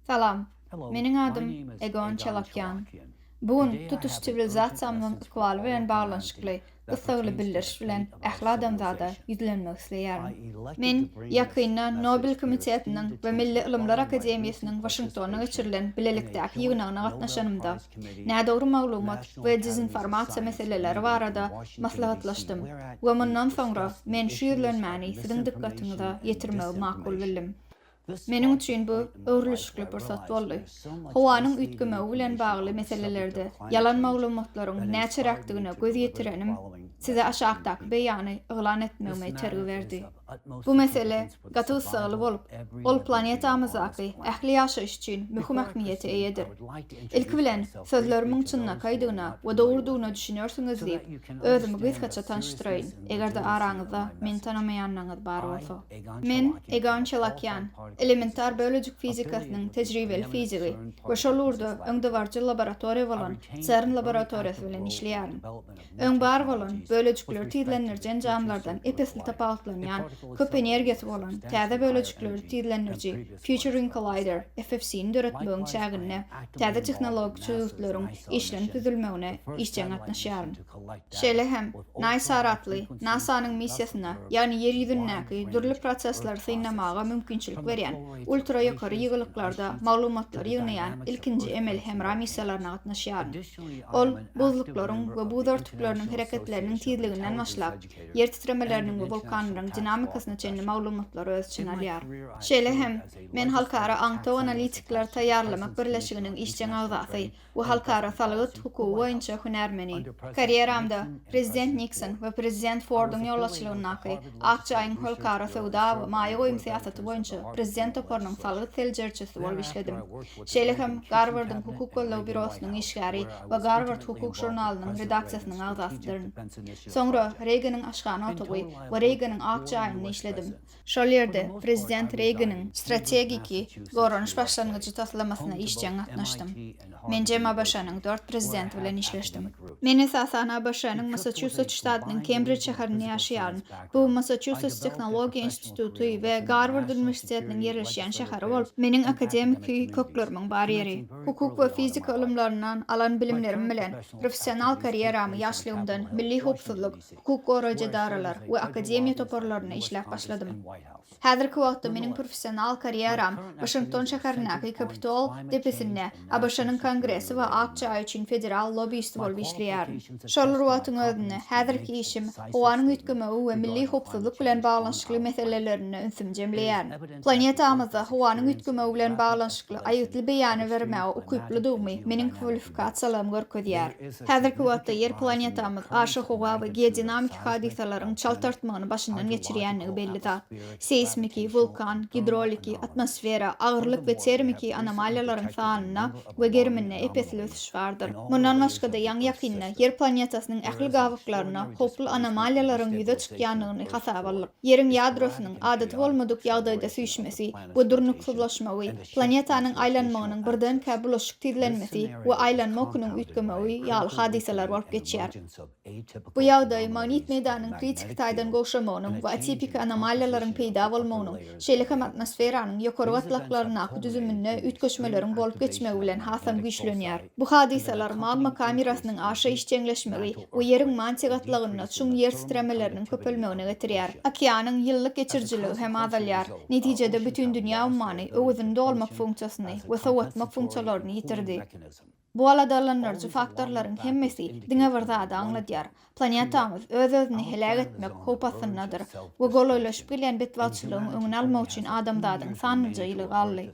Salam. Meniň adym Egon Çalakýan. Bu gün tutuş siwilizasiýamyzyň ykbaly bilen baglanyşykly gyssagly bildiriş bilen ähli adamzada ýüzlenmek isleýärin. Men ýakynda Nobel komitetiniň we Milli ylymlar akademiýasynyň Waşingtonda geçirilen bilelikdäki ýygnagyna gatnaşanymda, nädogry maglumat we dezinformasiýa meseleleri barada maslahatlaşdym we mundan soňra men şu ýüzlenmäni siziň dykgatyňyza ýetirmegi makul bildim. Meniň üçin bu öwrülişikli pursat boldy. Howanyň üýtgemegi bilen bagly meselelerde ýalan maglumatlaryň näçeräkdigine göz ýetirenim size aşakdaky beýany yglan etmegime itergi berdi. Bu mesele gaty gyssagly bolup, ol planetamyzdaky ähli ýaşaýyş üçin möhüm ähmiýete eýedir. Ilki bilen, sözlerimiň çynlakaýdygyna we dogrudygyna düşünersiňiz diýip, özümi gysgaça tanyşdyraýyn, eger-de araňyzda meni tanamaýanlaryňyz bar bolsa. Men Egon Çelakýan, elementar bölejik fizikasynyň tejribeli fizigi we şol ugurda öňdebaryjy laboratoriýa bolan CERN laboratoriýasy bilen işleýärin. Öň bar bolan, bölejikleri tizlendiriji enjamlardan ep-esli tapawutlanýan, köp energiýasy bolan, täze bölejikleri tizlendiriji, Futuring Collider, FFC-ni döretmegiň çäginde täze tehnologik çözgütleriň işlenip düzülmegine işjeň gatnaşýaryn. Şeýle hem, NISAR atly, NASA-nyň missiýasyna, ýagny Ýer ýüzündäki dürli prosesleri synlamaga mümkinçilik berýän, ultra ýokary ýygylyklarda maglumatlary ýygnaýan ilkinji emeli hemra missiýalaryna gatnaşýaryn. Ol buzluklaryň we buz örtükleriniň hereketleriniň tizliginden başlap, ýer titremeleriniň we wulkanlaryň dinamikasyna çenli maglumatlary öz içine alýar. Şeýle hem, men Halkara aňtaw analitikleri taýýarlamak birleşiginiň işjeň agzasy we halkara salgyt hukugy boýunça hünärmeni. Karýeramda Prezident Nikson we Prezident Forduň ýolbaşçylygyndaky Akjaýyň halkara söwda we maýa goýum syýasaty boýunça Prezident toparynyň salgyt seljeriçisi bolup işledim. şeýle hem Garwardyň hukuk goldaw býurosynyň işgäri we Garward hukuk žurnalynyň redaksiýasynyň agzasydyryn. Soňra Reýgeniň aşhana otagy we Reýgeniň ak jaýynda işledim. Şol ýerde prezident Reýgeniň strategiki goranyş başlangyjy taslamasyna işjeň gatnaşdym. Menjem ABŞ-nyň dört prezidenti bilen işleşdim. Men esasan ABŞ-nyň Massaçusets ştatynyň Kembrij şäherinde ýaşaýaryn. Bu Massaçusets tehnologiýa institutynda instituty we Garward uniwersitetiniň ýerleşýän şäheri bolup, meniň akademiki köklerimiň bar ýeri. Hukuk we fizika ylymlaryndan alan bilimlerim bilen professional karýeramy ýaşlygymdan milli howpsuzlyk, hukuk goraýjy edaralar we akademiýa toparlarynda işläp başladym. Häzirki wagtda meniň professional karýeram Waşington şäherindäki Kapitol depesinde ABŞ-nyň Kongresi we ak jaý üçin federal lobbiýisti bolup işleýärin. Şol bir wagtyň özünde, häzirki işim, howanyň üýtgemegi we milli howpsuzlyk bilen baglanyşykly meselelerinde ünsümi jemleýärin. Planetamyzda howanyň üýtgemegi bilen baglanyşykly aýgytly beýany bermäge ukyplydygymy meniň kwalifikasiýalarym görkezýär. Häzirki wagtda Ýer planetamyz aşa howa we geodinamiki hadysalaryň çalt artmagyny başyndan geçirýändigi belli zat. seýsmiki, wulkan, gidroliki, atmosfera, agyrlyk we termiki anomaliýalaryň sanynda we geriminde ep-esli ösüş bardyr. Mundan başga-da, ýaňy-ýakynda Ýer planetasynyň ähli gabaklarynda howply anomaliýalaryň ýüze çykýandygyny hasaba aldyk. Ýeriň ýadrosynyň adaty bolmadyk ýagdaýda süýşmesi we durnuksyzlaşmagy, planetanyň aýlanmagynyň birdenkä bulaşyk tizlenmesi we aýlanma okunyň üýtgemegi ýaly hadysalar bolup geçýär. Bu ýagdaý magnit meýdanynyň kritiki taýdan gowşamagynyň we atipiki anomaliýalaryň peýda bolmagynyň, şeýle hem atmosferanyň ýokary gatlaklaryndaky düzüminde üýtgeşmeleriň bolup geçmegi bilen hasam güýçlenýär. Bu hadysalar magma kamerasynyň aşa işjeňleşmegi we Ýeriň mantiýa gatlagynda çuň ýer titremeleriniň köpelmegine getirýär. Okeanyň ýyllyk geçirijiligi hem azalýar. Netijede, bütindünýä ummany öwezini dolmak funksiýasyny we sowatmak funksiýalaryny ýitirdi. Bu aladalandyryjy faktorlaryň hemmesi diňe bir zady aňladýar, planetamyz öz-özüni heläk etmek howp astyndadyr we golaýlaşyp gelýän betbagtçylygyň öňüni almak üçin adamzadyň sanlyja ýyly galdy.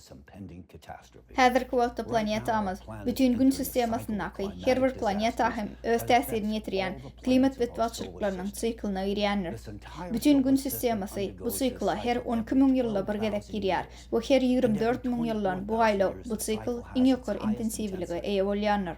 Häzirki wagtda planetamyz bütin Gün sistemasyndaky her bir planeta hem öz täsirini ýetirýän klimat betbagtçylyklarynyň siklyna girýändir. Bütin Gün sistemasy bu sikla her on iki müň ýylda bir gezek girýär Bu her ýigrimi dört müň ýyldan bu aýlaw, bu sikl iň ýokary intensiwlige eýe bolýandyr.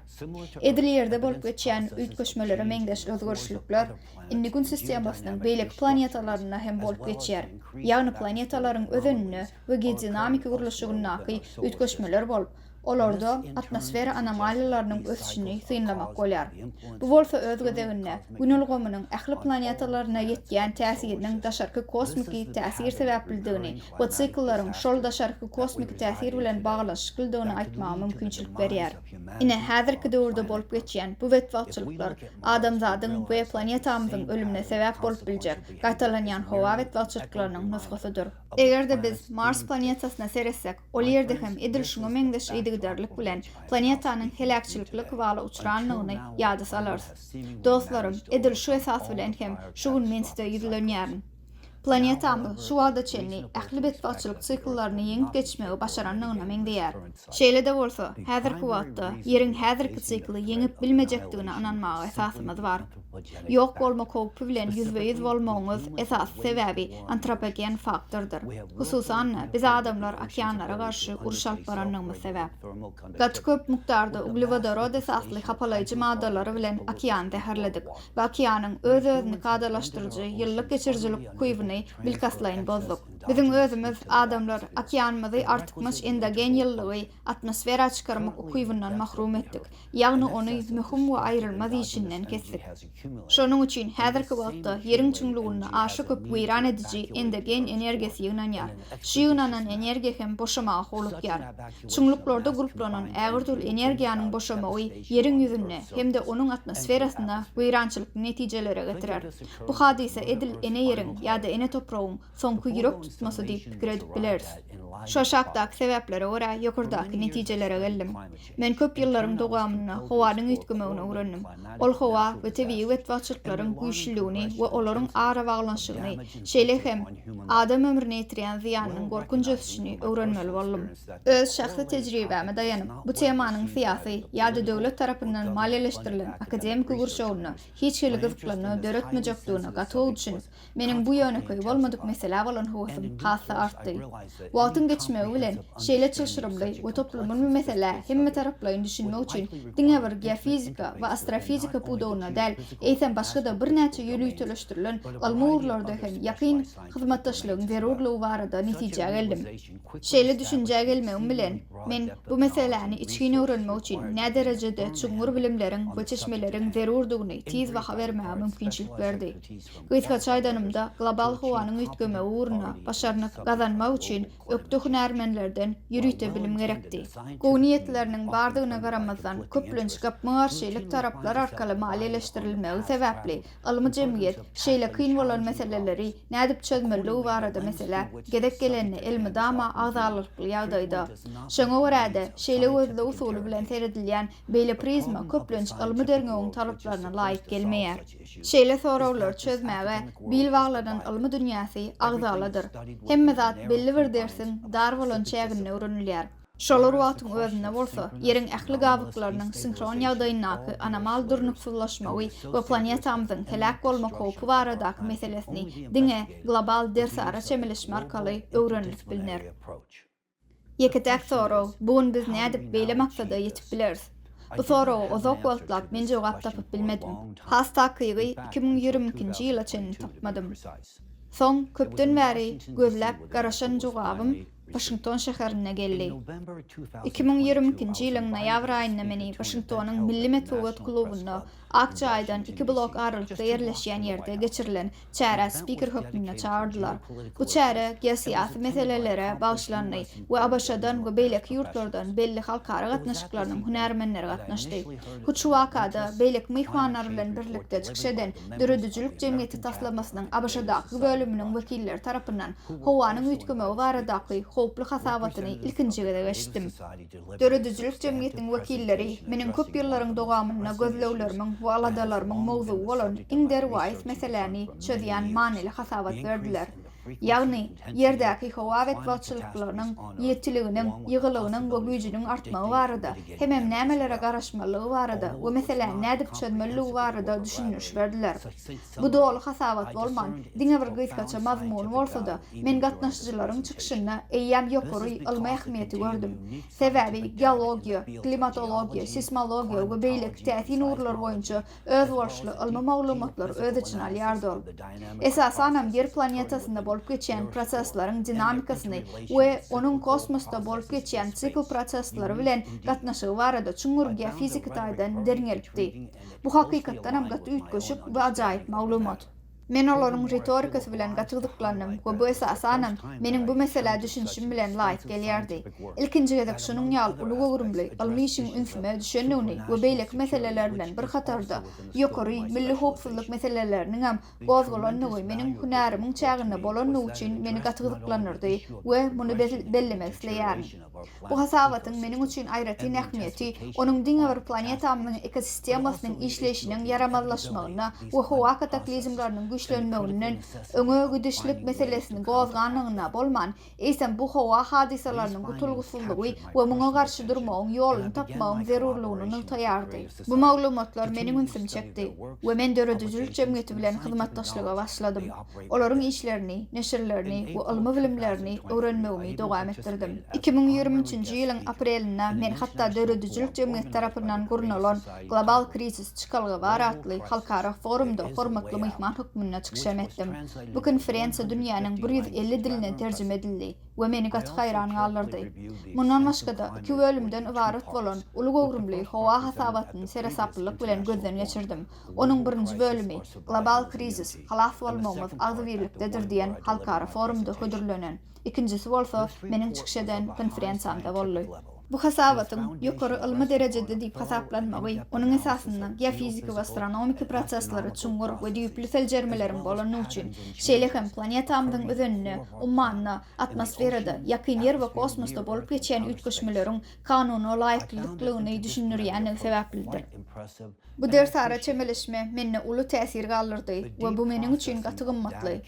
Edil Ýerde bolup geçýän üýtgeşmelere meňzeş özgerişlikler indi Gün sistemasynyň beýleki planetalarynda hem bolup geçýär, ýagny planetalaryň özeninde we geodinamiki gurluşygyndaky üýtgeşmeler bolup, Olarda atmosfera anomaliýalarynyň ösüşini synlamak bolýar. Bu bolsa öz gezeginde Gün ulgamynyň ähli planetalaryna ýetýän täsiriniň daşarky kosmiki täsir sebäplidigini we sikullaryň şol daşarky kosmiki täsir bilen baglanyşyklydygyny aýtmaga mümkinçilik berýär. Ine, häzirki döwürde bolup geçýän bu betbagtçylyklar adamzadyň we planetamyzyň ölümine sebäp bolup biljek gaýtalanýan howa betbagtçylyklarynyň nusgasydyr. Eger-de biz Mars planetasyna seretsek, Ol ýerde hem edil şuňa meňzeş yzygiderlik bilen planetanyň heläkçilikli kybala uçranlygyny ýada salarys. Dostlarym, edil şu esas bilen hem şu gün men size ýüzlenýärin. Planetamyz şu wagta çenli ähli betbagtçylyk sikllaryny ýeňip geçmegi başarandygyna meňzeýär. Şeýle-de bolsa, häzirki wagtda Ýeriň häzirki sikly ýeňip bilmejekdigine ynanmaga esasymyz bar. Ýok bolmak howpy bilen ýüzbe-ýüz bolmagyňyz esasy sebäbi antropogen faktordyr. Hususan-da, biz adamlar okeanlara garşy uruş alyp barandygymyz sebäp. Gaty köp mukdarda uglewodorod esasly hapalaýjy maddalary bilen okeany zäherledik we okeanyň öz-özüni kadalaşdyryjy ýyllyk geçirijilik ukybyny bilkastlaýyn bozduk. Biziň özümiz, adamlar, okeanymyzy artykmaç endogen ýyllygy atmosfera çykarmak ukybyndan mahrum etdik, ýagny ony möhüm we aýrylmaz işinden kesdik. Şonuň üçin häzirki wagtda Ýeriň çuňlugynda aşa köp weýran ediji endogen energiýasy ýygnanýar. Şu ýygnanan energiýa hem boşamaga howlukýar. Çuňluklarda gulplanan ägirdürli energiýanyň boşamagy Ýeriň ýüzünde hem-de onuň atmosferasynda weýrançylykly netijelere getirer. Bu hadysa edil ene Ýeriň ýa-da ene topragyň soňky ýürek tutmasy diýip pikir edip bileris. Şu aşakdaky sebäplere görä ýokardaky netijelere geldim. Men köp ýyllaryň dowamynda howanyň üýtgemegini öwrendim. Ol howa we tebigy betbagtçylyklaryň güýçlüligini we olaryň arabaglanyşygyny, şeýle hem adam ömrüne ýetirýän zyýanynyň gorkunç ösüşini öwrenmeli boldum. Öz şahsy tejribäme daýanyp, bu temanyň syýasy ýa-da döwlet tarapyndan maliýeleşdirilen akademiki gurşawynda hiç hili gyzyklanma döretmejekdigine gaty gowy düşünip, Meniň bu ýönekeý bolmadyk meselä bolan höwesim has-da artdy. Wagtyň geçmegi bilen, şeýle çylşyrymly we toplumylmy meselä hemmetaraplaýyn düşünmek üçin diňe bir geofizika we astrofizika pudagynda däl, eýsem başga-da birnäçe ýöriteleşdirilen ylmy ugurlarda hem ýakyn hyzmatdaşlygyň zerurlygy barada netijä geldim. Şeýle düşünjä gelmegim bilen, men bu meseläni içgin öwrenmek üçin näderejede çuňňur bilimleriň we çeşmeleriň zerurdygyny tiz baha bermäge mümkinçilik berdi. Gysgaça aýdanymda, global howanyň üýtgemegi ugrunda başarnyk gazanmak üçin ökde hünärmenlerden ýörite bilim gerekdi. Gowy niýetleriniň bardygyna garamazdan, köplenç gapma-garşylyk taraplar arkaly maliýeleşdirilmegi sebäpli, ylmy jemgyýet şeýle kyn bolan meseleleri nädip çözmelidigi barada meselä gezek gelende elmydama agzalrykly ýagdaýda. Şoňa görä-de, şeýle gözleg usuly bilen seredilýän beýle prizma köplenç ylmy derňewiň talaplaryna laýyk gelmeýär. Şeýle soraglar çözmäge bil baglanan ylmy dünýäsi agzaladyr. Hemme zat belli bir dersiň dar bolan çäginde öwrenilýär. Şolar wagtyň özünde bolsa, Ýeriň ähli gabyklarynyň sinhron ýagdaýyndaky anomal durnuksyzlaşmagy we planetamyzyň heläk bolmak howpy baradaky meselesini diňe global dersara çemeleşme arkaly öwrenilip bilner. Ýeke-täk sorag, bu gün biz nädip beýle maksada ýetip bileris? Bu soraga uzak wagtlap men jogap tapyp bilmedim. Has takygy iki müň ýigrimi ikinji ýyla çenli tapmadym. Soň köpden bäri gözläp garaşan jogabym Waşington şäherinde geldi. Iki müň ýigrimi ikinji ýylyň noýabr aýynda meni Waşingtonyň Milli metbugat klubynda ak jaýdan iki blok aralykda ýerleşýän ýerde geçirilen çärä spiker hökmünde çagyrdylar. Bu çäre geosyýasy meselelere bagyşlandy we ABŞ-dan we beýleki ýurtlardan belli halkara gatnaşyklarynyň hünärmenleri gatnaşdy. Hut şu wakada beýleki myhmanlar bilen birlikde çykyş eden Döredijilik jemgyýeti taslamasynyň ABŞ-daky bölüminiň wekilleri tarapyndan howanyň üýtgemegi baradaky howply hasabatyny ilkinji gezek eşitdim. Döredijilik jemgyýetiň wekilleri meniň köp ýyllaryň dowamynda gözleglerimiň we aladalarymyň mowzugy bolan iň derwaýys meseläni çözýän manyly hasabat berdiler. Ýagny, Ýerdäki howa betbagtçylyklarynyň, ýitiliginiň, ýygylygynyň we güýjüniň artmagy barada, hemem nämelere garaşmalydygy barada we meseläni nädip çözmelidigi barada düşündiriş berdiler. Bu doly hasabat bolman, diňe bir gysgaça mazmuny bolsa-da, Men gatnaşyjylaryň çykyşynda eýýäm ýokary ylmy ähmiýeti gördüm. Sebäbi geologiýa, klimatologiýa, seýsmologiýa we beýleki täsin ugurlar boýunça özboluşly ylmy maglumatlary öz içine alýardy ol. Esasanam Ýer planetasynda bolup geçýän prosesleriň dinamikasyny we onuň kosmosda bolup geçýän sikl prosesleri bilen gatnaşygy barada çuňňur geofiziki taýdan derňelipdi. Bu hakykatdanam gaty üýtgeşik we ajaýyp maglumat. Men olaryň ritorikasy bilen gaty gyzyklandym we bu esasanam meniň bu meselä düşünişim bilen laýyk gelýärdi. Ilkinji gezek şunuň ýaly uly göwrümli ylmy işiň ünsüme düşendigini we beýleki meseleler bilen bir hatarda ýokary milli howpsuzlyk meseleleriniňem gozgalandygy meniň hünärimiň çäginde bolandygy üçin meni gaty gyzyklandyrdy we muny bellemek isleýärin. Bu hasabatyň meniň üçin aýratyn ähmiýeti onuň diňe bir planetamyzyň ekosistemasynyň işleýşiniň ýaramazlaşmagynda we howa kataklizmleriniň güýçlenmeginden öňe gidişlik meselesini gozganlygynda bolman, eýsem bu howa hadysalarynyň gutulgysyzlygy we muňa garşy durmagyň ýoluny tapmagyň zerurlygyny nygtaýardy. Bu maglumatlar meniň ünsümi çekdi we men döredijilik jemgyýeti bilen hyzmatdaşlyga başladym. olaryň işlerini, neşirlerini we ylmy bilimlerini öwrenmegimi dowam etdirdim. Iki müň ýigrimi üçünji ýylyň aprelinde men hatda döredijilik jemgyýeti tarapyndan gurnalan Global Krizis çykalga bar atly halkara forumda hormatly myhman hökmünde çykyş hem etdim. Bu konferensiýa dünýäniň bir ýüz elli diline terjime edildi we meni gaty haýran galdyrdy. Mundan başga-da, iki bölümden ybarat bolan uly göwrümli howa hasabatyny seresaplylyk bilen gözden geçirdim. Onuň birinji bölümi Global krizis, halas bolmagymyz agzybirlikdedir diýen halkara forumda hödürlenen, ikinjisi bolsa meniň çykyş eden konferensiýamda boldy. Bu hasabatyň ýokary ylmy derejede diýip hasaplanmagy onuň esasynda geofiziki we astronomiki proseslere çuňňur we düýpli seljermeleriň bolany üçin, şeýle hem planetamyzyň özeninde, ummanda, atmosferada, ýakyn Ýer we kosmosda bolup geçýän üýtgeşmeleriň kanuna laýyklylyklygyny düşündirýändigi sebäplidr. Bu dersara çemeleşme mende uly täsir galdyrdy we bu meniň üçin gaty gymmatly.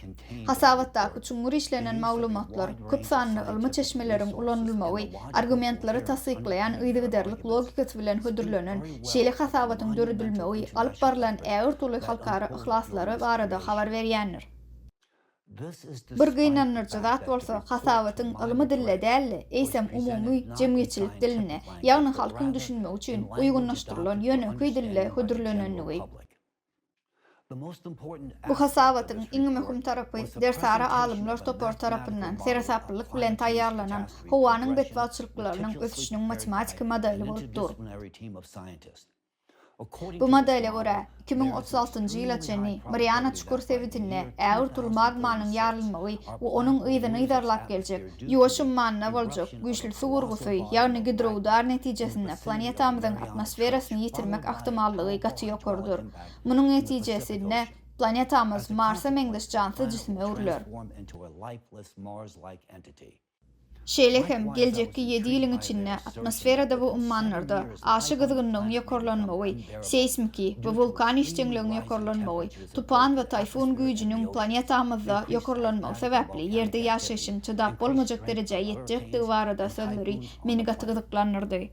Hasabatdaky çuňňur işlenen maglumatlar, köp sanly ylmy çeşmeleriň ulanylmagy, argumentleri tassyklaýan yzygiderlik logikasy bilen hödürlenen şeýle hasabatyň döredilmegi alyp barylan ägirt uly halkara yhlaslary barada habar berýändir. Bir gynandyryjy zat bolsa, hasabatyň ylmy dilde däl-de, eýsem umumy jemgyýetçilik dilinde, ýagny halkyň düşünmegi üçin uýgunlaşdyrylan ýönekeý dilde hödürlenendigi. Bu hasabatyň iň möhüm tarapy dersara alymlar topary tarapyndan seresaplylyk bilen taýýarlanan howanyň betbagtçylyklarynyň ösüşiniň matematiki modeli bolup dur. Bu modele görä, iki müň otuz altynjy ýyla çenli Mariana çukur sebitinde ägirt uly magmanyň ýarylmagy we onuň yzyny yzarlap geljek Ýuwaş ummanyna boljak güýçli suw urgusy, ýagny gidroudar netijesinde planetamyzyň atmosferasyny ýitirmek ahtimallygy gaty ýokarydyr. Munuň netijesinde planetamyz Marsa meňzeş jansyz jisime öwrüler. Şeýle hem, geljekki ýedi ýylyň içinde atmosferada we ummanlarda aşa gyzgynlygyň ýokarlanmagy, seýsmiki we wulkan işjeňligiň ýokarlanmagy, tupan we taýfun güýjüniň planetamyzda ýokarlanmagy sebäpli Ýerde ýaşaýşyň çydap bolmajak derejä ýetjekdigi barada sözleri meni gaty gyzyklandyrdy.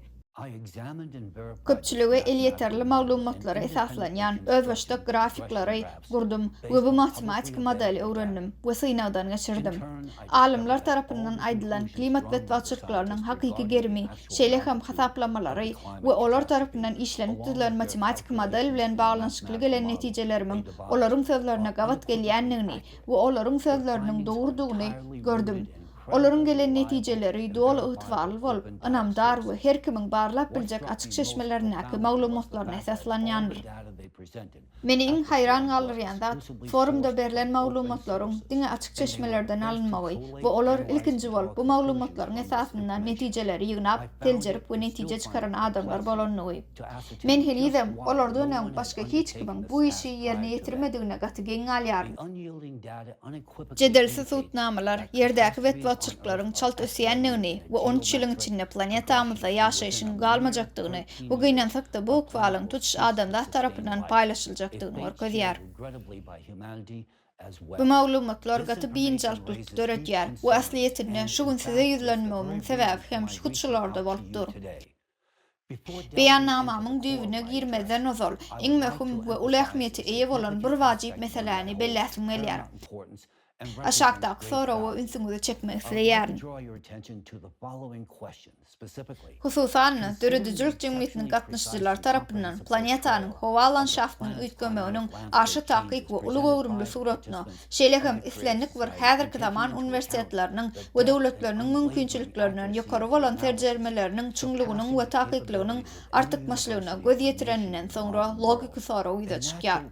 Köpçülige elýeterli maglumatlara esaslanýan özbaşdak grafiklary gurdum we bu matematiki modeli öwrendim we synagdan geçirdim. Alymlar tarapyndan aýdylan klimat betbagtçylyklarynyň hakyky gerimi, şeýle hem hasaplamalary we olar tarapyndan işlenip düzülen matematiki model bilen baglanyşykly gelen netijelerimiň olaryň sözlerine gabat gelýändigini we olaryň sözleriniň dogrudygyny gördüm. Olaryň gelen netijeleri doly ygtybarly bolup, ynamdar we her kimiň barlap biljek açyk çeşmelerindäki maglumatlaryna esaslanýandyr. Meni iň haýran galdyrýan zat, forumda berlen maglumatlaryň diňe açyk çeşmelerden alynmagy we olar ilkinji bolup bu maglumatlaryň esasynda netijeleri ýygnap, seljerip we netije çykaran adamlar bolandygy. Men henizem olardan öň başga hiç kimiň bu işi ýerine ýetirmedigine gaty geň galýaryn. Jedelsiz subutnamalar Ýerdäki betbagtçylyklaryň çalt ösýändigini we on üç ýylyň içinde planetamyzda ýaşaýşyň galmajakdygyny, bu gynansak-da, bu ykbalyň tutuş adamzat tarapyndan paýlaşyljakdygyny görkezýär. Bu maglumatlar gaty biynjalyklyk döredýär we aslyýetinde şu gün size ýüzlenmegimiň sebäbi hem hut şularda bolup dur. Beýannamamyň düýbüne girmezden ozal, iň möhüm we uly ähmiýete eýe bolan bir wajyp meseläni belläsim gelýär. Aşakdaky soraga ünsüňizi çekmek isleýärin. Hususan-da, döredijilik jemgyýetiniň gatnaşyjylary tarapyndan planetanyň howa landşaftynyň üýtgemeginiň aşa takyk we uly göwrümli suratyna, Şeýle hem, islendik bir häzirki zaman uniwersitetleriniň we döwletleriniň mümkinçiliklerinden ýokary bolan serjermeleriniň çuňlugynyň we takyklygynyň artykmaçlygyna göz ýetireninden soňra logiki sorag ýüze çykýar.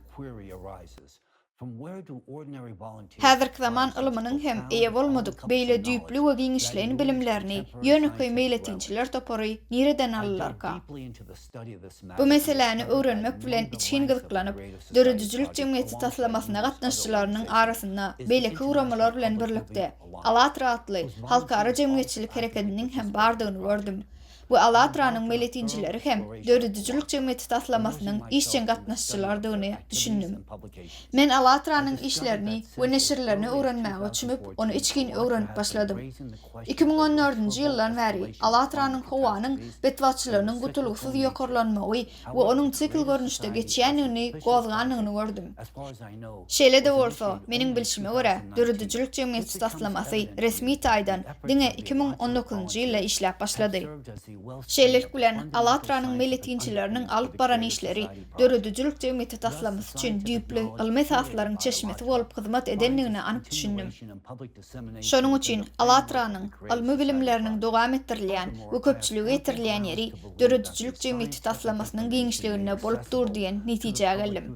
Häzirki zaman ylymynyň hem eýe bolmadyk beýle düýpli we giňişleýin bilimlerini ýönekeý meýletinçiler topary nireden alylarka? Bu meseläni öwrenmek bilen içgin gyzyklanyp, döredijilik jemgyýeti taslamasyna gatnaşyjylarynyň arasynda beýleki guramalar bilen birlikde, Alatra atly halkara jemgyýetçilik herekediniň hem bardygyny gördüm. Bu Alatranyň meýletinçileri hem döredijilik jemgyýeti taslamasynyň işjeň gatnaşyjylarydygyny düşündim. Men Alatranyň işlerini we neşirlerini öwrenmäge çümüp, ony içgin öwrenip başladym. Iki müň on dördünji ýyldan bäri Alatranyň howanyň betbagtçylygynyň gutulgysyz ýokarlanmagy we onuň sikl görnüşde geçýändigini gozganyny gördüm. Şeýle-de bolsa, meniň bilşime görä, döredijilik jemgyýeti taslamasy, resmi taýdan, diňe iki müň on dokuzynjy ýylda işläp başlady. Şeýlelik bilen, Alatranyň meýletinçileriniň alyp baran işleri döredijilik jemgyýeti taslamasy üçin düýpli ylmy esaslaryň çeşmesi bolup hyzmat edendigine anyk düşündim. Şonuň üçin ALLATRA-nyň ylmy bilimleriniň dowam etdirilýän we köpçülige ýetirilýän ýeri döredijilik jemgyýeti taslamasynyň giňişliginde bolup dur diýen netijä geldim.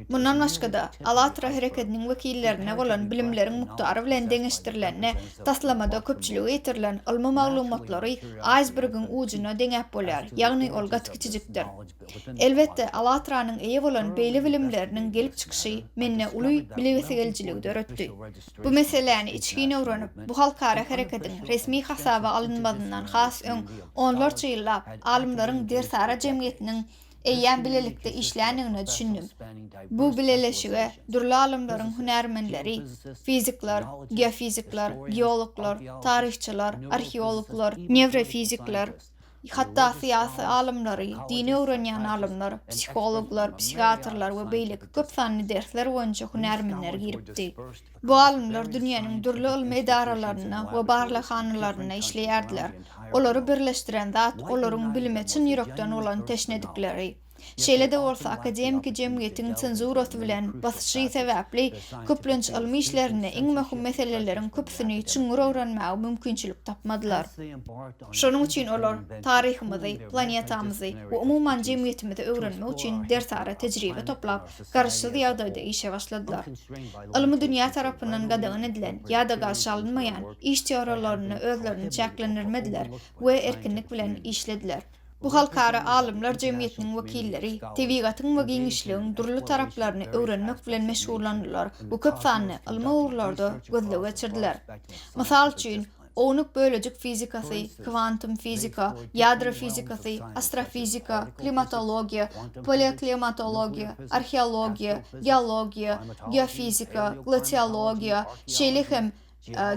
Mundan başga-da, ALLATRA herekediniň wekillerine bolan bilimleriň mukdary bilen deňeşdirilende, taslamada köpçülige ýetirilen ylmy maglumatlary aýsbergiň ujuna deňäp bolýar, ýagny ol gaty kiçijikdir. Elbetde, ALLATRA-nyň eýe bolan beýle bilimleriniň gelip çykyşy mende uly bilesigelijiligi döretdi. Bu meseläni içgin öwrenip, bu halkara hereketiň resmi hasaba alynmazyndan has öň, onlarça ýyllap, alymlaryň Dersara jemgyýetiniň eýýäm bilelikde işländigine düşündim. Bu bileleşige dürli alymlaryň hünärmenleri, fizikler, geofizikler, geologlar, taryhçylar, arheologlar, newrofizikler, Hatda syýasy alymlary, dini öwrenýän alymlar, psihologlar, psihiatrlar we beýleki köp sanly dersler boýunça hünärmenler giripdi. Bu alymlar dünýäniň dürli ylmy edaralarynda we barlaghanalarynda işleýärdiler. Olary birleşdiren zat olaryň bilime çyn ýürekden bolan teşnedikleri. Şeýle-de bolsa, akademiki jemgyýetiň senzurasy bilen basyşy sebäpli, köplenç ylmy işlerinde iň möhüm meseleleriň köpüsini çuňňur öwrenmäge mümkinçilik tapmadylar. Şonuň üçin olar taryhymyzy, planetamyzy we umuman jemgyýetimizi öwrenmek üçin dersara tejribe toplap, garaşsyz ýagdaýda işe başladylar. Ylmy dünýä tarapyndan gadagan edilen ýa-da garşy alynmaýan iş teoriýalarynda özlerini çäklendirmediler we erkinlik bilen işlediler. Bu halkara alymlar jemgyýetiniň wekilleri tebigatyň we giňişligiň dürli taraplaryny öwrenmek bilen meşgullandylar we köp sanly ylmy ugurlarda gözleg geçirdiler. Mysal üçin, ownuk bölejik fizikasy, kwantum fizika, ýadro fizikasy, astrofizika, klimatologiýa, paleoklimatologiýa, arheologiýa, geologiýa, geofizika, glasiologiýa, şeýle hem,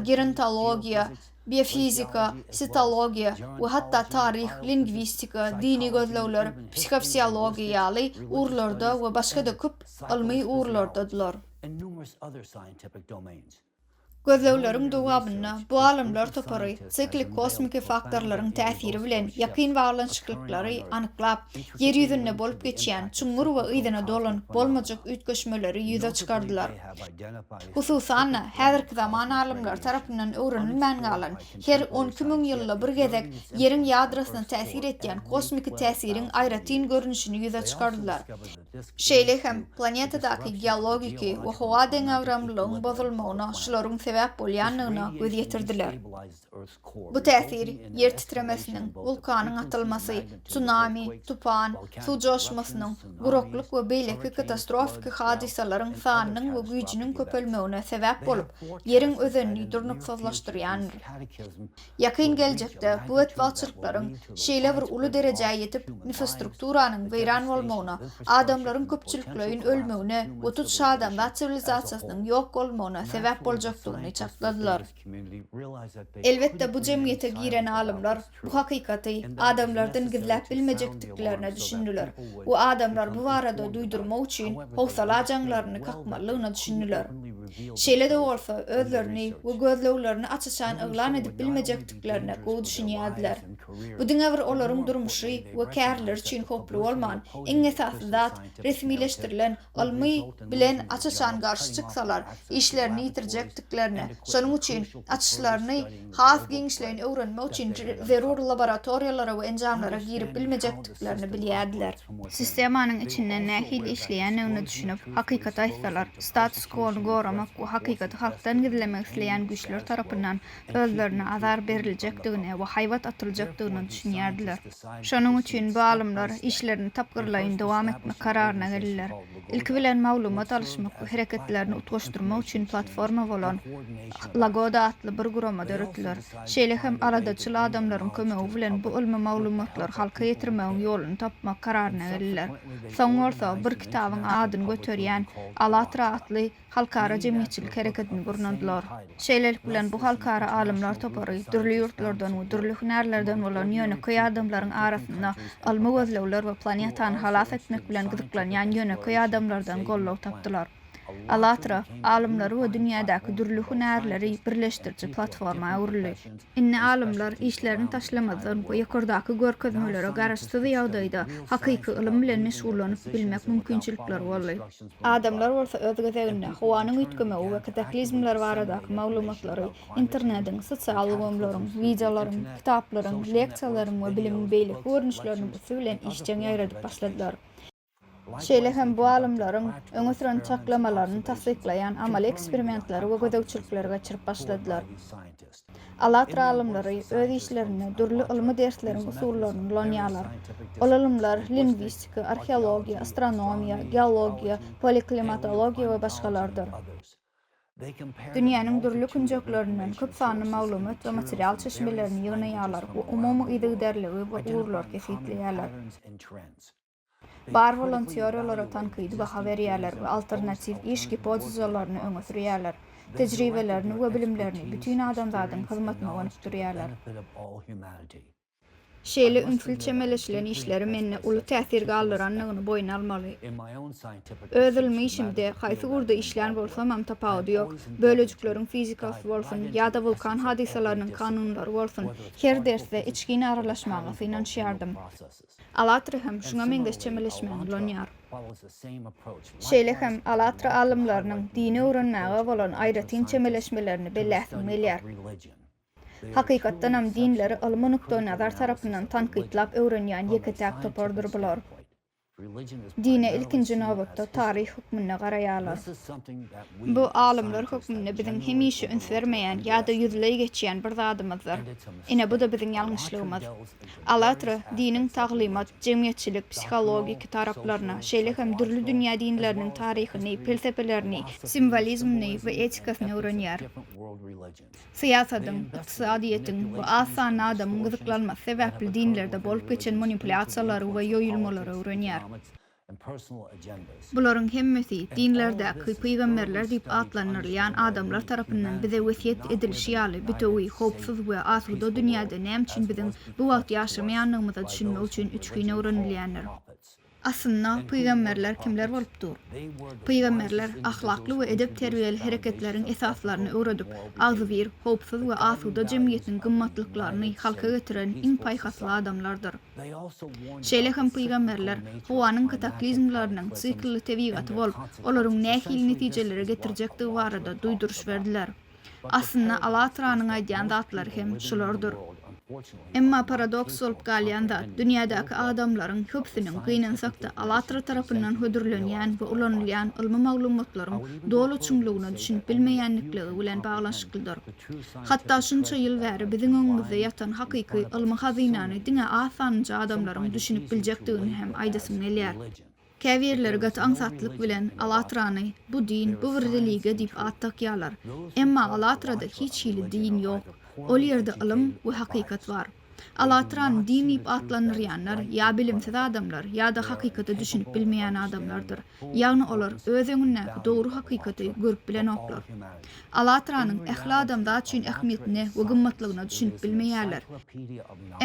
gerontologiýa, biofizika, sitologiýa we hatda taryh, lingwistika, dini gözlegler, psihofiziologiýa ýaly ugurlarda we başga-da köp ylmy ugurlardadylar. Gözlegleriň dowamynda bu alymlar topary siklik kosmiki faktorlaryň täsiri bilen ýakyn baglanyşyklyklary anyklap, Ýer ýüzünde bolup geçýän çuňňur we yzyna dolanyp bolmajak üýtgeşmeleri ýüze çykardylar. Hususan-da, häzirki zaman alymlary tarapyndan öwrenilmän galan, her on iki müň ýylda bir gezek Ýeriň ýadrosyna täsir etýän kosmiki täsiriň aýratyn görnüşini ýüze çykardylar. Şeýle hem, planetadaky geologiki we howa deňagramlylygyň bozulmagyna şularyň sebäp bolýandygyna göz ýetirdiler. Bu täsir, ýer titremesiniň, wulkanyň atylmasy, tsunami, tupan, suw joşmasynyň, guraklyk we beýleki katastrofiki hadysalaryň sanynyň we güýjüniň köpelmegine sebäp bolup, ýeriň özenini durnuksyzlaşdyrýandyr. Ýakyn geljekde bu betbagtçylyklaryň şeýle bir uly derejä ýetip, infostrukturanyň weýran bolmagyna, adamlaryň köpçülikleýin ölmegine we tut-şadamzat siwilizasiýasynyň ýok bolmagyna sebäp boljakdygyny çakladylar. Elbetde, bu jemgyýete giren alymlar bu hakykaty adamlardan gizläp bilmejekdiklerine düşündiler we adamlar bu barada duýdurmak üçin howsala jaňlaryny kakmalydygyna düşündiler. Şeýle-de bolsa, özlerini we gözleglerini aç-açan yglan edip bilmejekdiklerine gowy düşünýärdiler. Bu diňe bir olaryň durmuşy we kärileri üçin howply bolman, iň esasy zat, resmileşdirilen ylmy bilen aç-açan garşy çyksalar, işlerini ýitirjekdiklerini, şonuň üçin açyşlaryny has giňişleýin öwrenmek üçin zerur laboratoriýalara we enjamlara girip bilmejekdiklerini bilýärdiler. Sistemanyň içinde nähili işleýändigine düşünip, hakykaty aýtsalar, status-kwony goramak we hakykaty halkdan gizlemek isleýän güýçler tarapyndan özlerine azar beriljekdigine we haýbat atyljakdygyna düşünýärdiler. Şonuň üçin bu alymlar işlerini tapgyrlaýyn dowam etmek kararyna geldiler. Ilki bilen maglumat alyşmak we hereketlerini utgaşdyrmak üçin platforma bolan Lagoda atly bir gurama döretdiler. Şeýle hem aladaçyl adamlaryň kömegi bilen bu ylmy maglumatlary halka ýetirmegiň ýoluny tapmak kararyna geldiler. Soň bolsa bir kitabyň adyny göterýän Allatra atly halkara jemgyýetçilik hereketini gurnandylar. Şeýlelik bilen, bu halkara alymlar topary dürli ýurtlardan we dürli hünärlerden bolan ýönekeý adamlaryň arasynda ylmy gözlegler we planetany halas etmek bilen gyzyklanýan ýönekeý adamlardan goldaw tapdylar. Allatra, alymlary we dünýädäki dürli hünärleri birleşdiriji platforma öwrüldi. Indi alymlar işlerini taşlamazdan we ýokardaky görkezmelere garaşsyz ýagdaýda hakyky ylym bilen meşgullanyp bilmek mümkinçilikleri boldy. Adamlar bolsa öz gezeginde, howanyň üýtgemegi we kataklizmler baradaky maglumatlary internediň, sosial ulgamlaryň, wideolaryň, kitaplaryň, leksiýalaryň we bilimiň beýleki görnüşleriniň üsti bilen işjeň ýaýradyp başladylar. Şeýle hem bu alymlaryň öňe süren çaklamalaryny tassyklaýan amaly eksperimentleri we gözegçilikleri geçirip başladylar. Alatra alymlary öz işlerinde dürli ylmy dersleriň usullaryny ulanýarlar. Ol ylymlar lingwistika, arheologiýa, astronomiýa, geologiýa, poleklimatologiýa we başgalardyr. Dünýäniň dürli künjeklerinden köp sanly maglumat we material çeşmelerini ýygnaýarlar we umumy yzygiderligi we ugurlary kesgitleýärler. Bar bolan teoriýalara tankydy baha berýärler we alternatiw iş gipotezalaryny öňe sürýärler, tejribelerini we bilimlerini bütin adamzadyň hyzmatyna gönükdirýärler. Şeýle ünsli çemeleşilen işleri mende uly täsir galdyrandygyny boýun almaly. Öz ylmy işimde, haýsy ugurda işlän bolsamam tapawudy ýok, bölejikleriň fizikasy bolsun, ýa-da wulkan hadysalarynyň kanunlary bolsun, her dersde içgin aralaşmaga synanyşýardym. Alatra hem şuňa meňzeş çemeleşmäni ulanýar. Şeýle hem Alatra alymlarynyň dini öwrenmäge bolan aýratyn çemeleşmelerini belläsim gelýär. Hakykatdanam dinleri ylmy nukdaýnazar tarapyndan tankytlap öwrenýän ýeke-täk topardyr bular. Dine ilkinji nobatda taryh hökmünde garaýarlar. Bu alymlar hökmünde biziň hemişe üns bermeýän ýa-da ýüzleý geçýän bir zadymyzdyr. Ine bu-da biziň ýalňyşlygymyz. Alatra, diniň taglymat, jemgyýetçilik, psihologik taraplaryna, şeýle hem dürli dünýä dinleriniň taryhyny, pelsepelerini, simwolizmini we etikasyny öwrenýär. Syýasatyň, ykdysadyýetiň we az sanly adamyň gyzyklanmasy sebäpli dinlerde bolup geçen manipulýasiýalary we ýoýulmalary öwrenýär. Bularyň hemmesi dinlerdäki pygamberler diýip atlandyrylýan adamlar tarapyndan bize wesýet edilişi ýaly bitewi, howpsuz we asuda dünýäde näme üçin biziň bu wagt ýaşamaýandygymyza düşünmek üçin üçgin öwrenilýändir. Aslynda pygamberler kimler bolup dur? Pygamberler ahlakly we edep-terbiýeli hereketleriň esaslaryny öwredip, agzybir, howpsuz we asuda jemgyýetiň gymmatlyklaryny halka getiren iň paýhasly adamlardyr. Şeýle hem pygamberler howanyň kataklizmleriniň siklli tebigaty bolup, olaryň nähili netijelere getirjekdigi barada duýduryş berdiler. Aslynda, Allatranyň aýdýan zatlary hem şulardyr. Emma paradoks bolup galýan zat, dünýädäki adamlaryň köpüsiniň, gynansak-da, Allatra tarapyndan hödürlenýän we ulanylýan ylmy maglumatlaryň doly çuňlugyna düşünip bilmeýänlikligi bilen baglanyşyklydyr. Hatda şunça ýyl bäri biziň öňümizde ýatan hakyky ylmy hazynany diňe az sanynja adamlaryň düşünip biljekdigini hem aýdasym gelýär. Käbirleri gaty aňsatlyk bilen Alatrany bu din, bu bir religiýa diýip at dakýarlar. Emma Alatrada hiç hili din ýok. Ol ýerde ylym we hakykat bar. Alatran din diýip atlandyrýanlar ýa bilimsiz adamlar, ýa-da hakykata düşünip bilmeýän adamlardyr. Ýagny olar öz öňündäki dogry hakykaty görüp bilenoklar. Alatranyň ähli adamzat üçin ähmiýetine we gymmatlygyna düşünip bilmeýärler.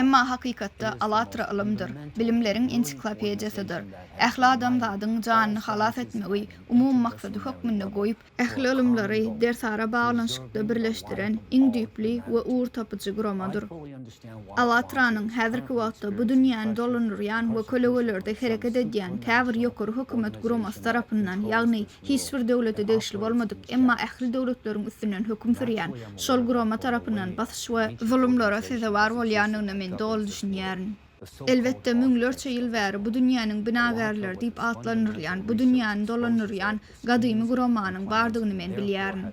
Emma hakykatda Alatra ylymdyr, bilimleriň ensiklopediýasydyr. Ähli adamzadyň janyny halas etmegi umumy maksady hökmünde goýup, ähli ylymlary dersara baglanyşykda birleşdiren iň düýpli we ugurtapyjy guramadyr. Awatranyň häzirki wagtda bu dünýäni dolandyrýan we kölegelerde hereket edýän käbir ýokary hökümet guramasy tarapyndan, ýagny hiç bir döwlete degişli bolmadyk, emma ähli döwletleriň üstünden höküm sürýän şol gurama tarapyndan basyş we zulumlara sezewar bolýandygyna men doly düşünýärin. Elbetde, müňlerçe ýyl bäri bu dünýäniň binagärleri diýip atlandyrylýan, bu dünýäni dolandyrýan gadymy guramanyň bardygyny men bilýärin.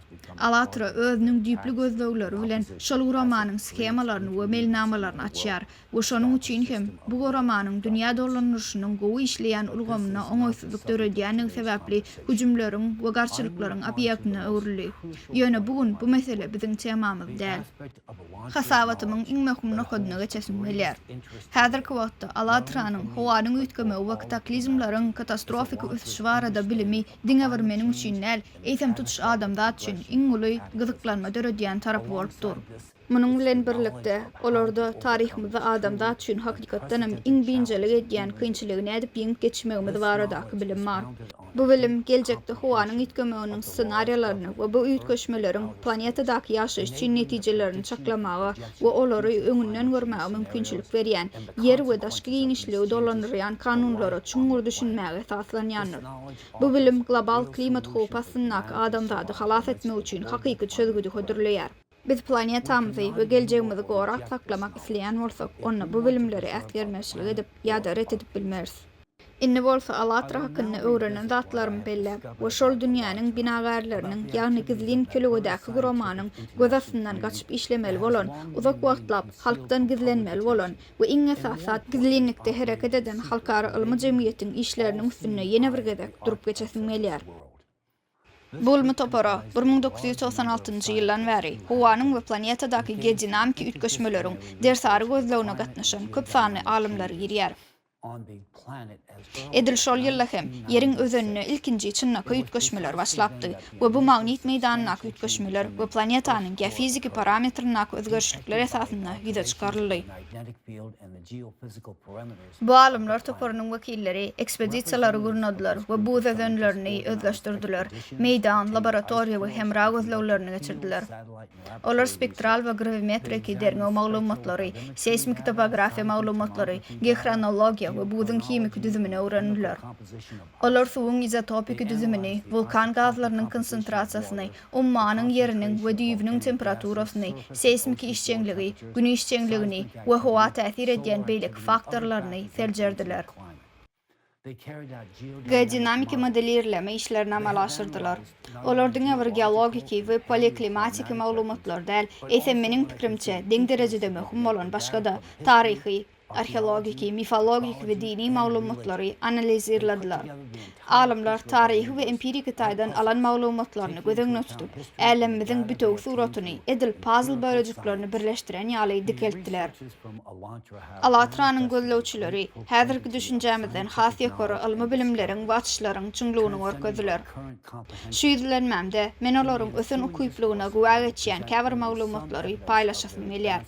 Alatra özüniň düýpli gözlegleri bilen şol guramanyň shemalaryny we melnamalaryny açýar we şonuň üçin hem bu guramanyň dünýä dolandyryşynyň gowy işleýän ulgamyna oňaýsyzlyk döredýändigi sebäpli hüjümleriň we garşylyklaryň obýektine öwrüldi. Ýöne bu gün bu mesele biziň temamyz däl. Hasabatymyň iň möhüm nokadyna geçesim gelýär. Häzirki wagtda Alatranyň howanyň üýtgemegi we kataklizmleriň katastrofiki ösüşi barada bilimi diňe bir meniň üçin däl, eýsem tutuş adamzat üçin iň uly gyzyklanma döredýän tarapy bolup dur. Munuň bilen birlikde, olarda taryhymyzda adamzat üçin hakykatdanam iň biynjalyk edýän kynçylygy nädip ýeňip geçmegimiz baradaky bilim bar. Bu bilim geljekde howanyň üýtgemeginiň ssenariýalaryny we bu üýtgeşmeleriň planetadaky ýaşaýyş üçin netijelerini çaklamaga we olary öňünden görmäge mümkinçilik berýän, ýer we daşky giňişligi dolandyrýan kanunlara çuňňur düşünmäge esaslanýandyr. Bu bilim global klimat howpy astyndaky adamzady halas etmek üçin hakyky çözgüdi hödürleýär. Biz planetamyzy we geljegimizi gorap saklamak isleýän bolsak, onda bu bilimleri äsgermezçilik edip ýa-da ret edip bilmeris. Indi bolsa Alatra hakynda öwrenen zatlarymy belläp we şol dünýäniň binagärleriniň, ýagny gizlin kölügedäki guramanyň göz astyndan gaçyp işlemeli bolan, uzak wagtlap halkdan gizlenmeli bolan we iň esasy zat gizlinlikde hereket eden halkara ylmy jemgyýetiň işleriniň üstünde ýene bir gezek durup geçesim gelýär. Bu ylmy topara bir müň dokuz ýüz togsan altynjy ýyldan bäri howanyň we planetadaky geodinamiki üýtgeşmeleriň dersary gözlegine gatnaşan köp sanly alymlar girýär. Edil şol ýylda hem Ýeriň özeninde ilkinji çynlakaý üýtgeşmeler başlapdy we bu magnit meýdanyndaky üýtgeşmeler we planetanyň geofiziki parametryndaky özgerişlikler esasynda ýüze çykaryldy. Bu alymlar toparynyň wekilleri ekspedisiýalary gurnadylar we buz özenlerini özleşdirdiler, meýdan, laboratoriýa we hemra gözleglerini geçirdiler. Olar spektral we grawimetriki derňew maglumatlary, seýsmiki topografiýa maglumatlary, geohronologiýa we buzuň himiki düzümini öwrendiler. Olar suwuň izotopiki düzümini, wulkan gazlarynyň konsentrasiýasyny, ummanyň ýeriniň we düýbüniň temperaturasyny, seýsmiki işjeňligi, Gün işjeňligini we howa täsir edýän beýleki faktorlaryny seljerdiler. Geodinamiki modelirleme işlerini amala aşyrdylar. Olar diňe bir geologiki we paleoklimatiki maglumatlary däl, eýsem, meniň pikrimçe, deň derejede möhüm bolan başga-da, taryhy, arheologik, mifologik we dini maglumatlary analizirlediler. Alymlar taryhy we empiriki taýdan alan maglumatlaryny göz öňüne tutup, älemimiziň bütewi suratyny edil pazl bölejiklerini birleşdiren ýaly dikeltdiler. Allatranyň gözlegçileri häzirki düşünjämizden has ýokary ylmy bilimleriň we açyşlaryň çuňlugyny görkezdiler. Şu ýüzlenmämde men olaryň ösen ukyplygyna güwä geçýän käbir maglumatlary paýlaşasym gelýär.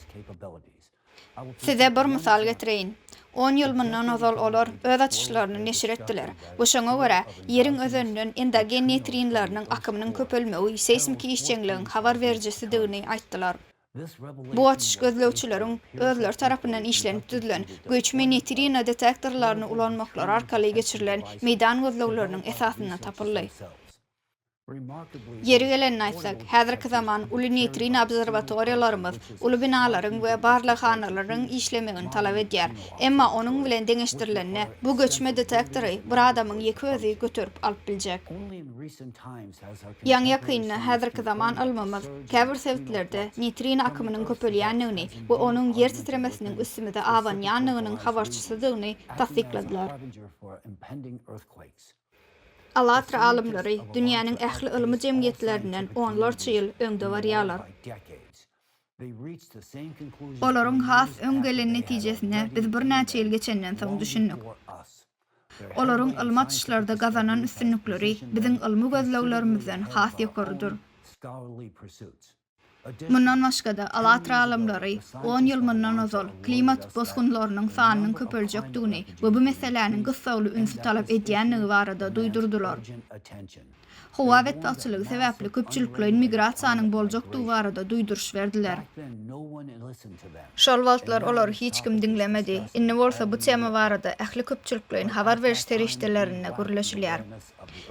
Size bir mysal getireýin. On ýyl mundan ozal olar öz açyşlaryny neşir etdiler we şoňa görä, Ýeriň özeninden endogen neýtrinleriniň akymynyň köpelmegi seýsmiki işjeňligiň habar berijisidigini aýtdylar. Bu açyş gözlegçileriň özleri tarapyndan işlenip düzülen göçme neýtrino detektorlaryny ulanmaklary arkaly geçirilen meýdan gözlegleriniň esasynda tapyldy. Ýeri gelende aýtsak, häzirki zaman uly neýtrin obserwatoriýalarymyz uly binalaryň we barlaghanalaryň işlemegini talap edýär. Emma onuň bilen deňeşdirilende, bu göçme detektory bir adamyň ýeke özi göterip alyp biljek. Ýaňy-ýakynda häzirki zaman ylmymyz käbir sebitlerde neýtrin akymynyň köpelýändigini we onuň ýer titremesiniň üstümize abanýandygynyň habarçysydygyny tassykladylar. Alatra alymlary dünýäniň ähli ylmy jemgyýetlerinden onlarça ýyl öňde barýarlar. Olaryň has öň gelen netijesine biz birnäçe ýyl geçenden soň düşündik. Olaryň ylmy açyşlarda gazanan üstünlikleri biziň ylmy gözleglerimizden has ýokarydyr. Mundan başga-da, Alatra alymlary on ýyl mundan ozal klimat bosgunlarynyň sanynyň köpeljekdigini we bu meseläniň gyssagly ünsi talap edýändigi barada duýdurdylar. Howa betbagtçylygy sebäpli köpçülikleýin migrasiýanyň boljakdygy barada duýduryş berdiler. Şol wagtlar olary hiç kim diňlemedi. Indi bolsa bu tema barada ähli köpçülikleýin habar beriş serişdelerinde gürleşilýär.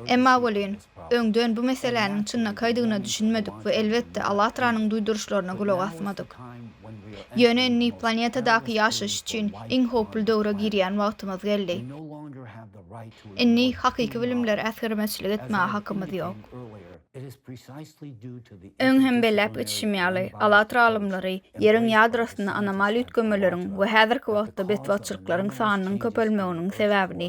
Emma welin, öňden bu meseläniň çynlakaýdygyna düşünmedik we elbetde Allatranyň duýduryşlaryna gulak asmadyk. Ýöne indi planetadaky ýaşaýyş üçin iň howply döwre girýän wagtymyz geldi. Indi hakyky bilimlere äsgermeçilik etmäge hakymyz ýok. Öň hem belläp geçişim ýaly, Alatra alymlary Ýeriň ýadrosynda anomal üýtgemeleriň we häzirki wagtda betbagtçylyklaryň sanynyň köpelmeginiň sebäbini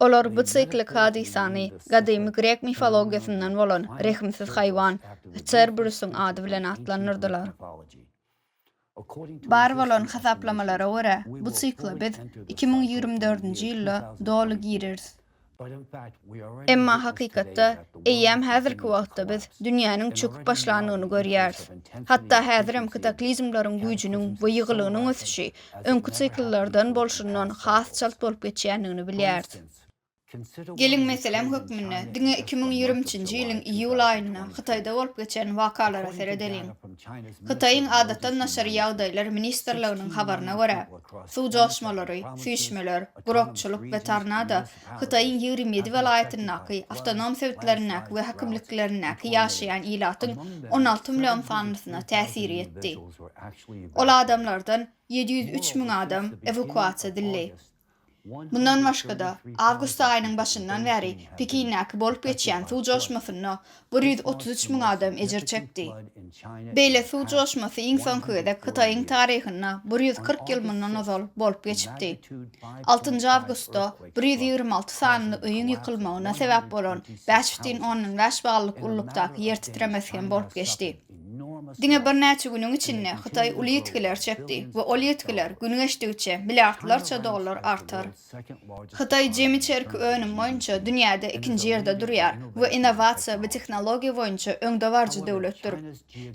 Olar bu siklik hadysany gadymy grek mifologiýasyndan bolan rehimsiz haýwan Çerberusyň ady bilen atlandyrdylar. Bar bolan hasaplamalara görä, bu sikla biz iki müň ýigrimi dördünji ýylda doly gireris. Emma hakykatda, eýýäm häzirki wagtda biz dünýäniň çöküp başlandygyny görýäris. Hatda häzirem kataklizmleriň güýjüniň we ýygylygynyň ösüşi öňki sikllerden bolşundan has çalt bolup geçýändigini bilýäris. Geliň, meselem hökmünde, diňe iki müň ýigriminjinji ýylyň iýul aýynda Hytaýda bolup geçen wakalara seredeliň. Hytaýyň Adatdan daşary ýagdaýlar ministrliginiň habaryna görä, suw joşmalary, süýşmeler, gurakçylyk we tornado Hytaýyň ýigrimi ýedi welaýatyndaky, awtonom sebitlerindäki we häkimliklerindäki ýaşaýan ilatyň on alty million sanlysyna täsiri ýetdi. Ol adamlardan ýedi ýüz üç müň adam ewakuasiýa edildi. Mundan başga-da, awgust aýynyň başyndan bäri Pekindäki bolup geçýän suw joşmasynda bir ýüz otuz üç müň adam ejir çekdi. Beýle suw joşmasy iň soňky gezek Hytaýyň taryhynda bir ýüz kyrk ýyl mundan ozal bolup geçipdi. Altynjy awgustda bir ýüz ýigrimi alty sanly öýüň ýykylmagyna sebäp bolan bäş bütin ondan bäş ballyk ululykdaky ýer titremesi hem bolup geçdi. Diňe birnäçe günüň içinde Hytaý uly ýitgiler çekdi we ol ýitgiler gün geçdigiçe milliardlarça dollar artar. Hytaý jemi çerki önüm boýunça dünýäde ikinji ýerde durýar we innowasiýa we tehnologiýa boýunça öňdebaryjy döwletdir.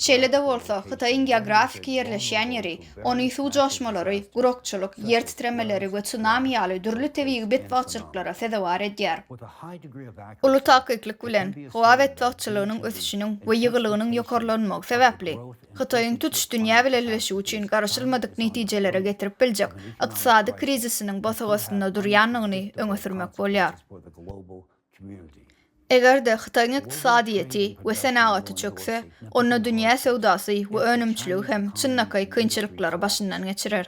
Şeýle-de bolsa, Hytaýyň geografiki ýerleşýän ýeri ony suw joşmalary, gurakçylyk, ýer titremeleri we tsunami ýaly dürli tebigy betbagtçylyklara sezewar edýär. Uly takyklyk bilen, howa betbagtçylygynyň ösüşiniň we ýygylygynyň ýokarlanmagy sebäpli, Hytaýyň tutuş dünýä bileleşigi üçin garaşylmadyk netijelere getirip biljek ykdysady krizisiniň bosag astynda durýandygyny öňe sürmek bolýar. Eger-de Hytaýyň ykdysadyýeti we senagaty çökse, onda dünýä söwdasy we önümçiligi hem çynlakaý kynçylyklary başyndan geçirer.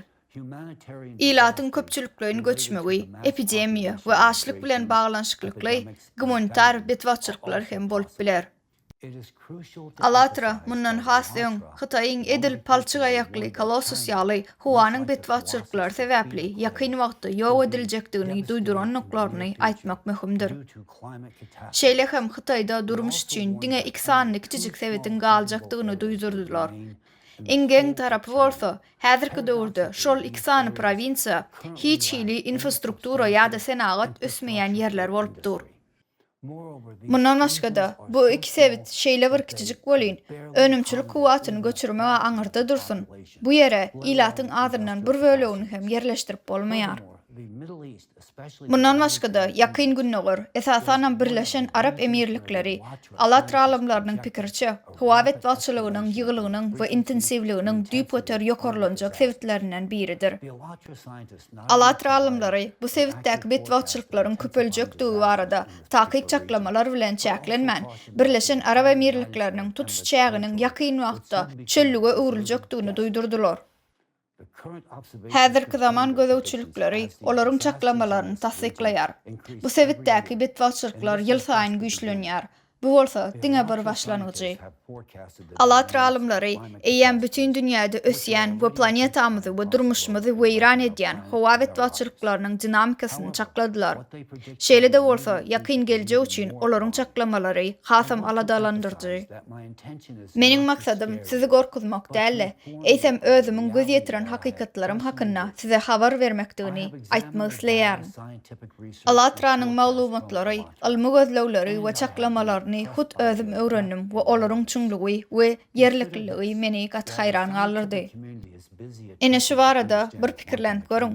Ilatyň köpçülikleýin göçmegi, epidemiýa we açlyk bilen baglanyşyklykly gumanitar betbagtçylyklar hem bolup biler. Alatra, mundan has öň, Hytaýyň edil palçyk aýakly Colossus ýaly, howanyň betbagtçylyklary sebäpli ýakyn wagtda ýok ediljekdigini duýdurandyklaryny aýtmak möhümdir. Şeýle hem Hytaýda durmuş üçin diňe iki sany kiçijik sebitiň galjakdygyny duýdurdylar. Ingeň tarapy bolsa, häzirki döwürde şol iki sany prowinsiýa hiç hili infrastruktura ýa-da senagat ösmeýän ýerler bolup dur. Mundan başga-da, bu iki sebit şeýle bir kiçijik welin, önümçilik kuwwatyny göçürmeg-ä aňyrda dursun, bu ýere ilatyň azyndan bir bölegini hem ýerleşdirip bolmaýar. Mundan başga-da, Ýakyn Gündogar, esasanam Birleşen Arap Emirlikleri, Alatr alymlarynyň pikiriçe, howa betbagtçylygynyň ýygylygynyň we intensiwliginiň düýpgöter ýokarlanjak sebitlerinden biridir. Alatra alymlary bu sebitdäki betbagtçylyklaryň köpeljekdigi barada takyk çaklamalar bilen çäklenmän, Birleşen Arap Emirlikleriniň tutuş çäginiň ýakyn wagtda çöllüge öwrüljekdigini duýdurdylar. Häzirki zaman gözegçilikleri olaryň çaklamalaryny tassyklaýar. Bu sebitdäki betbagtçylyklar ýylsaýyn güýçlenýär. Bu bolsa diňe bir başlangyjy. Alatra alymlary eýýäm bütin dünýäde ösýän we planetamyzy we durmuşymyzy weýran edýän howa betbagtçylyklarynyň dinamikasyny çakladylar. Şeýle-de bolsa, ýakyn geljek üçin olaryň çaklamalary hasam aladalandyryjy. Meniň maksadym sizi gorkuzmak däl-de, eýsem özümiň göz ýetiren hakykatlarym hakynda size habar bermekdigini aýtmak isleýärin. ALLATRA-nyň maglumatlary, ylmy gözlegleri we çaklamalaryny hut özüm öwrendim we olaryň çuňlugy we ýerlikliligi meni gaty haýran galdyrdy. Ine şu barada bir pikirlenip görüň.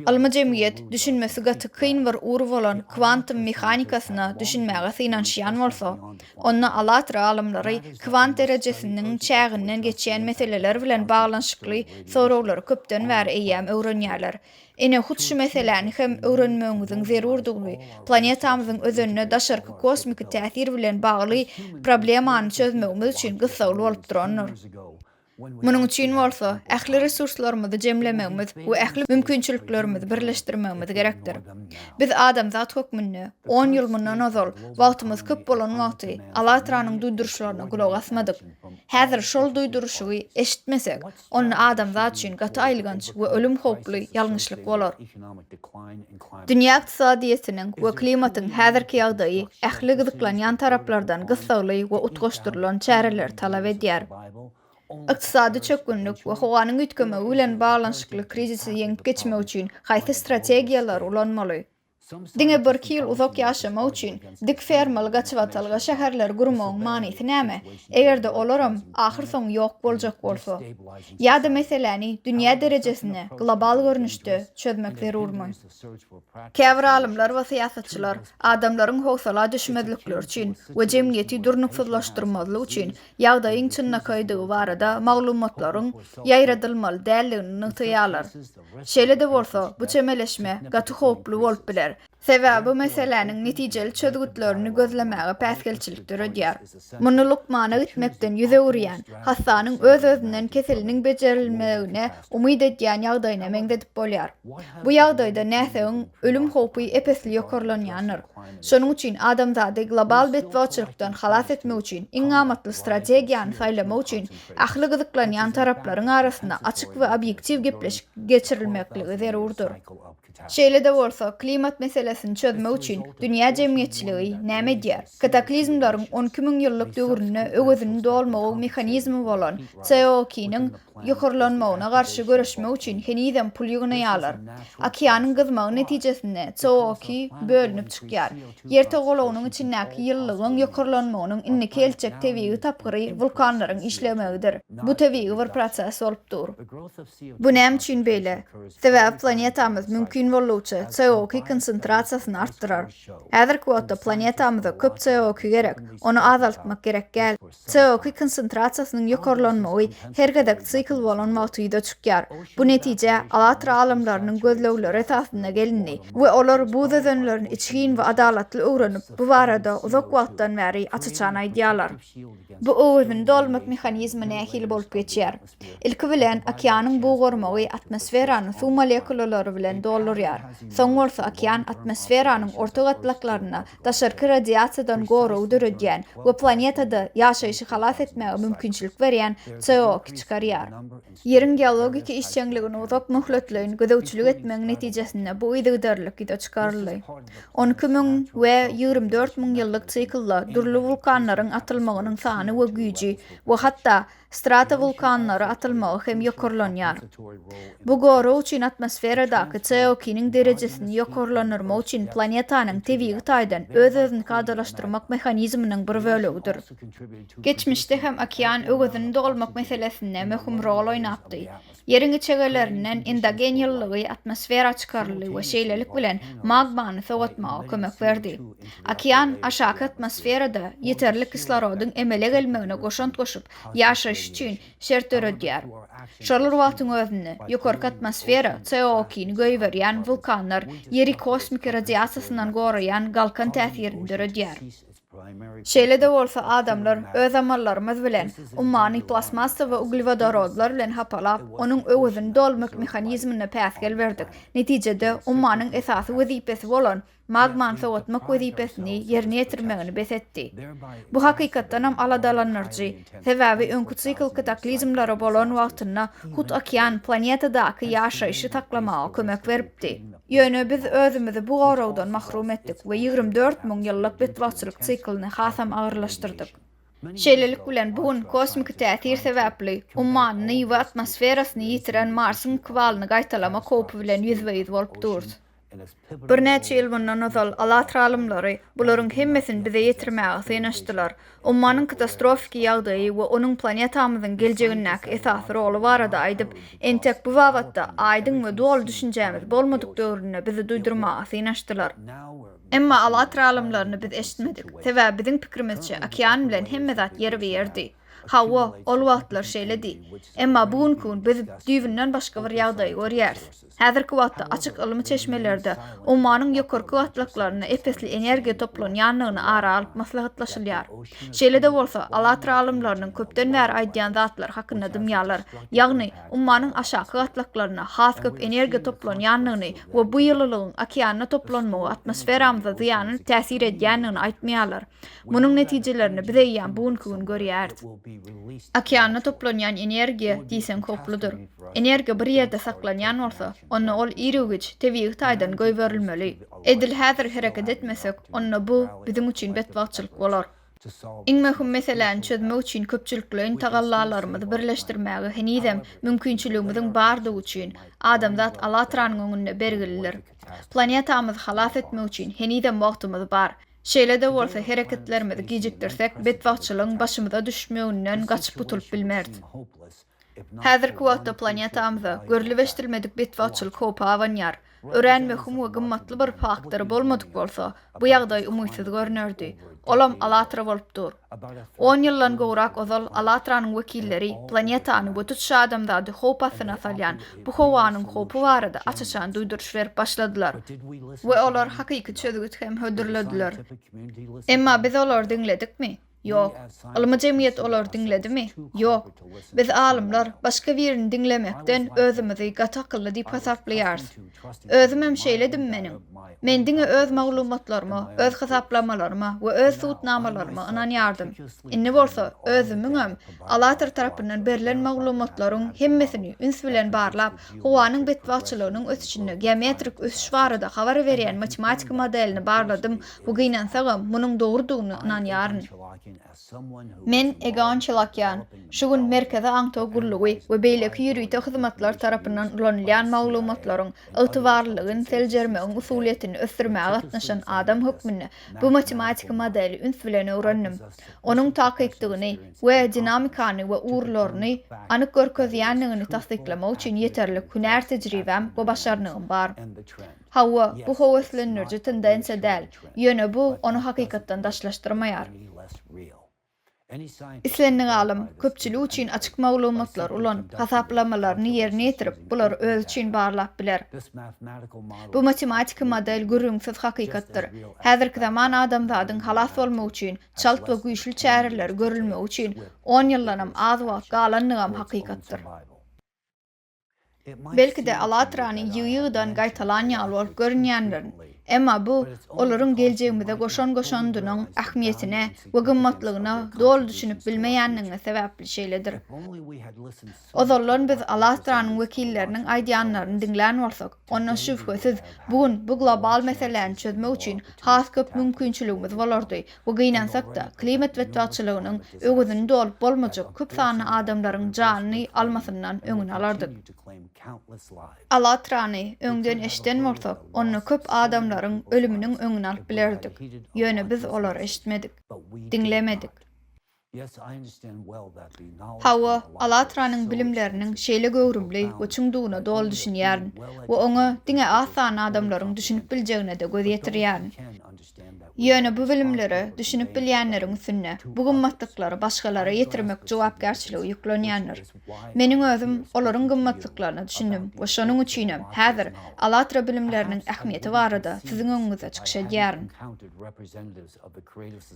Ylmy jemgyýet düşünmesi gaty kyn bir ur bolan kwantum mehanikasyna düşünmäge synanyşýan bolsa, onda ALLATRA alymlary kwant derejesiniň çäginden geçýän meseleler bilen baglanyşykly soraglary köpden bäri eýýäm öwrenýärler Ine, hut şu meseläni hem öwrenmegiňiziň zerurdygyny, planetamyzyň özenine daşarky kosmiki täsir bilen bagly problemany çözmegimiz üçin gyssagly bolup durandyr. Munuň üçin bolsa, ähli resurslarymyzy jemlemegimiz we ähli mümkinçiliklerimizi birleşdirmegimiz gerekdir. Biz adamzat hökmünde, on ýyl mundan ozal, wagtymyz köp bolan wagty, Alatranyň duýduryşlaryna gulak asmadyk. Häzir şol duýduryşygy eşitmesek, Onda adamzat üçin gaty aýylganç we ölüm howply ýalňyşlyk bolar. Dünýä ykdysadyýetiniň we klimatyň häzirki ýagdaýy ähli gyzyklanýan taraplardan gyssagly we utgaşdyrylan çäreleri talap edýär. Ykdysady çökgünlik we howanyň üýtgemegi bilen baglanyşykly krizisi ýeňip geçmek üçin haýsy strategiýalary ulanmaly? Diňe birki ýyl uzak ýaşamak üçin dik fermaly gaçybatalga şäherleri gurmagyň manysy näme, eger-de olaram ahyrsoňy ýok boljak bolsa? Ýa-da meseläni dünýä derejesinde, global görnüşde çözmek zerurmy? Käbir alymlar we syýasatçylar adamlaryň howsala düşmezlikleri üçin we jemgyýeti durnuksyzlaşdyrmazlyk üçin ýagdaýyň çynlakaýdygy barada maglumatlaryň ýaýradylmaly däldigini nygtaýarlar. Şeýle-de bolsa, bu çemeleşme gaty howply bolup biler, sebäbi bu meseläniň netijeli çözgütlerini gözlemäge päsgelçilik döredýär. Muny lukmana gitmekden ýüz öwürýän, hassanyň öz-özünden keseliniň bejerilmegine umyt edýän ýagdaýyna meňzedip bolýar. Bu ýagdaýda näsagyň ölüm howpy ep-esli ýokarlanýandyr. Şonuň üçin adamzady global betbagtçylykdan halas etmek üçin iň amatly strategiýany saýlamak üçin ähli gyzyklanýan taraplaryň arasynda açyk we obýektiw gepleşik geçirilmekligi zerurdyr. Şeýle-de bolsa, klimat meselesini çözmek üçin dünýä jemgyýetçiligi näme edýär? Kataklizmleriň on iki müň ýyllyk döwründe öwezini dolmagyň mehanizmi bolan COOKI-niň ýokarlanmagyna garşy göreşmek üçin henizem pul ýygnaýarlar. Okeanyň gyzmagy netijesinde CO2 bölünip çykýar. Ýer togalagynyň içindäki ýylylygyň ýokarlanmagynyň indiki eltjek tebigy tapgyry wulkanlaryň işlemegidir. Bu tebigy bir proses bolup dur. Bu näme üçin beýle? Sebäbi planetamyz mümkin boldugyça CO2 konsentrasiýasyny artdyrar. Häzirki wagtda planetamyza köp CO2 gerek, ony azaltmak gerek däl. CO2 konsentrasiýasynyň ýokarlanmagy her gezek sikl bolan wagty ýüze çykýar. Bu netijä Alatra alymlarynyň gözlegleri esasynda gelindi we olar buz özenlerini içgin we adalatly öwrenip, bu barada uzak wagtdan bäri aç-açan aýdýarlar. Bu öwezini dolmak mehanizmi nähili bolup geçýär? Ilki bilen, okeanyň bug gormagy atmosferany suw molekulalary bilen doldurýar. Soň bolsa okean atmosferanyň orta gatlaklaryna daşarky radiasiýadan goragy döredýän we planetada ýaşaýşy halas etmäge mümkinçilik berýän CO2 çykarýar. Ýeriň geologik işjeňligine uzak möhletleýin gözegçilik etmegiň netijesinde bu yzygiderlilik ýüze çykaryldy. On iki müň we ýigrimi dört müň ýyllyk siklda dürli wulkanlaryň atylmagynyň sany we güýji we hatda stratowulkanlara atylmagy hem ýokarlanýar. Bu gorag üçin atmosferadaky CO2-niň derejesini ýokarlandyrmak üçin planetanyň tebigy taýdan öz-özüni kadalaşdyrmak mehanizminiň bir bölegidir. Geçmişde hem okean öwezini dolmak meselesinde möhüm rol oýnapdy. Ýeriň içegelerinden endogen ýylylygy atmosfera çykaryldy we şeýlelik bilen magmany sogatmaga kömek berdi. Okean aşaky atmosferada ýeterlik kislorodyň emele gelmegine goşant goşup, ýaşaýyş üçin şert döredýär. Şol bir wagtyň özünde, ýokarky atmosfera CO2-ni goýberýän wulkanlar Ýeri kosmiki radiasiýasyndan goraýan galkan täsirini döredýär. Şeýle-de bolsa, adamlar öz amallarymyz bilen ummany plastmassa we uglewodorodlar bilen hapalap, onuň öwezini dolmak mehanizmine päsgel berdik. Netijede, ummanyň esasy wezipesi bolan magmany sowatmak wezipesini ýerine ýetirmegini bes etdi. Bu hakykatdanam aladalandyryjy, sebäbi öňki sikl kataklizmlere bolan wagtynda hut okean planetadaky ýaşaýşy saklamaga kömek beripdi. Ýöne biz özümizi bu goragdan mahrum etdik we ýigrimi dört müň ýyllyk betbagtçylyk siklyny hasam agyrlaşdyrdyk. Şeýlelik bilen, bu gün kosmiki täsir sebäpli umman, Nyýwa atmosferasyny ýitiren Marsyň ykbalyny gaýtalama howpy bilen ýüzbe-ýüz bolup durus. Birnäçe ýyl mundan ozal, Alatra alymlary bularyň hemmesini bize ýetirmäge synanyşdylar. Ummanyň katastrofiki ýagdaýy we onuň planetamyzyň geljegindäki esasy roly barada aýdyp, entek bu babatda aýdyň we doly düşünjämiz bolmadyk döwründe bizi duýdurmaga synanyşdylar. Emma Allatr alymlaryny biz eşitmedik. Sebäbi biziň pikirimizçe, okean bilen hemme zat ýerbe-ýerdi. Hawa, ol wagtlar şeýledi. Emma bu günki gün biz düýbünden başga bir ýagdaýy görýäris. Häzirki wagtda açyk ylmy çeşmelerde Ommanyň ýokarky gatlaklarynda ep-esli energiýa toplanýandygyny ara alyp maslahatlaşylýar. Şeýle-de bolsa, Alatra alymlarynyň köpden bäri aýdýan zatlary hakynda dymýarlar, ýagny Ommanyň aşaky gatlaklarynda has köp energiýa toplanýandygyny we bu ýylylygyň okeanda toplanmagy atmosferamyza zyýanly täsir edýändigini aýtmaýarlar. Munuň netijelerini biz eýýäm bu günki gün görýäris. Okeanda toplanýan energiýa diýseň howpludyr. Energiýa bir ýerde saklanýan bolsa, onda ol irgiwüç, tebigy taýdan goýberilmeli. Edil häzir hereket etmesek, onda bu biziň üçin betbagtçylyk bolar. Iň möhüm meseläni çözmek üçin köpçülikleýin tagallalarymyzy birleşdirmäge henizem mümkinçiligimiziň bardygy üçin, adamzat Allatranyň öňünde bergilidir. Planetamyzy halas etmek üçin henizem wagtymyz bar. Şeýle-de bolsa, hereketlerimizi gijikdirsek, betbagtçylygyň başymyza düşmeginden gaçyp gutulyp bilmeris. Häzirki wagtda planetamyza görlübeşdirilmedik betbagtçylyk howpy abanýar. Örän möhüm we gymmatly bir faktory bolmadyk bolsa, bu ýagdaý umytsyz görnerdi. Olam Alatra bolup dur. On ýyldan gowrak ozal Alatranyň wekilleri planetany we tutuş adamzady howp astyna salýan bu howanyň howpy barada aç-açan duýduryş berip başladylar we olar hakyky çözgüt hem hödürlediler. Emma biz olary diňledikmi? Ýok. Ylmy jemgyýet olary diňledimi? Ýok. Biz alymlar başga birini diňlemekden özümizi gaty akylly diýip hasaplaýarys. Özümem şeýledim meniň. Men diňe öz maglumatlaryma, öz hasaplamalaryma we öz subutnamalaryma ynanýardym. Indi bolsa özümiňem ALLATRA tarapyndan berlen maglumatlaryň hemmesini üns bilen barlap, howanyň betbagtçylygynyň ösüşinde geometrik ösüş barada habar berýän matematiki modelini barladym, we gynansagam, munuň dogrudygyna ynanýaryn. Men, Egon Çelakýan, şu gün Merkezi aňtaw gullugy we beýleki ýörite hyzmatlar tarapyndan ulanylýan maglumatlaryň ygtybarlylygyny seljermegiň usulyýetini ösdürmäge gatnaşan adam hökmünde bu matematiki modeli üns bilen öwrendim. Onuň takykdygyny we dinamikany we ugurlaryny anyk görkezýändigini tassyklamak üçin ýeterlik hünär tejribäm we başarnygym bar. Hawa, bu höweslendiriji tendensiýa däl, ýöne bu ony hakykatdan daşlaşdyrmaýar. Islendik alym, köpçülik üçin açyk maglumatlary ulanyp, hasaplamalaryny ýerine ýetirip, bulary özi üçin barlap biler. Bu matematiki model gürrüňsiz hakykatdyr. Häzirki zaman adamzadyň halas bolmagy üçin çalt we güýçli çäreleri görülmegi üçin on ýyldanam az wagt galandygam hakykatdyr. Belki-de Alatranyň ýygy-ýygydan gaýtalan ýaly bolup görünýändirin. Emma bu olaryň geljegimize goşan goşandynyň ähmiýetine we gymmatlygyna doly düşünip bilmeýändigimiz sebäpli şeýledir. Ozaldan biz Alatranyň wekilleriniň aýdýanlaryny diňlän bolsak, Ondan şübhesiz, bu gün bu global meseläni çözmek üçin has köp mümkinçiligimiz bolardy we gynansak-da, klimat betbagtçylygynyň öwezini dolup bolmajak köp sanly adamlaryň janyny almasyndan öňüni alardyk. Allatrany öňden eşiden bolsak, onda köp adamlaryň ölüminiň öňüni alyp bilerdik. Ýöne biz olary eşitmedik. Diňlemedik. Hawa, Alatranyň bilimleriniň şeýle göwrümli we çuňdugyna doly düşünýärin we oňa diňe az sanly adamlaryň düşünip biljegine-de göz ýetirýärin. Ýöne bu bilimlere düşünip bilýänleriň üstünde bu gymmatlyklary başgalara ýetirmek jogapkärçiligi ýüklenýändir. Meniň özüm olaryň gymmatlyklaryna düşündim we şonuň üçinem häzir Alatra bilimleriniň ähmiýeti barada siziň öňüňizde çykyş edýärin.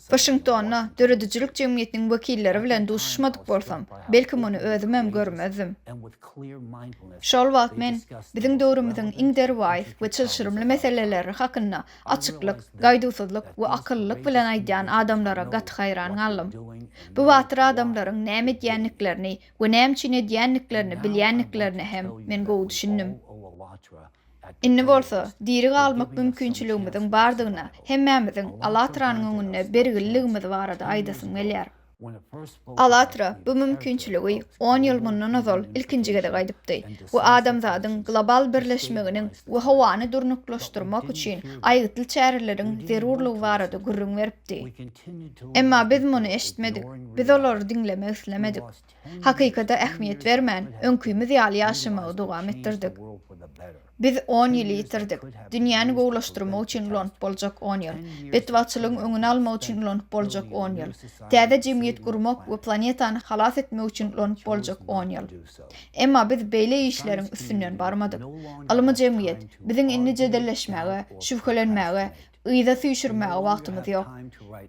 Waşingtonda döredijilik jemgyýetiniň wekilleri bilen duşuşmadyk bolsam, belki muny özümem görmezdim. Şol wagt men biziň döwrümiziň iň derwaýys we çylşyrymly meseleleri hakynda açyklyk, gaýduwsyzlyk we akyllylyk bilen aýdýan adamlara gaty haýran galdym. Bu batyr adamlaryň näme edýändiklerini we näme üçin edýändiklerini bilýändiklerine hem men gowy düşündim. Indi bolsa, diri galmak mümkinçiligimiziň bardygyna hemmämiziň Alatranyň öňünde bergililigimiz barada aýdasym gelýär. Alatra bu mümkinçiligi on ýyl mundan ozal ilkinji gezek aýdypdy we adamzadyň global birleşmeginiň we howany durnuklaşdyrmak üçin aýgytly çäreleriň zerurlygy barada gürrüň beripdi. Emma biz muny eşitmedik, biz olary diňlemek islemedik. Hakykata ähmiýet bermän, öňkümiz ýaly ýaşamagy dowam etdirdik. Biz on ýyly ýitirdik. Dünýäni gowulaşdyrmak üçin ulanyp boljak on ýyl. Betbagtçylygyň öňüni almak üçin ulanyp boljak on ýyl. Täze jemgyýet gurmak we planetany halas etmek üçin ulanyp boljak on ýyl. Emma biz beýle işleriň üstünden barmadyk. Ylmy jemgyýet, biziň indi jedelleşmäge, şübhelenmäge, Yza süýşürmäge wagtymyz ýok.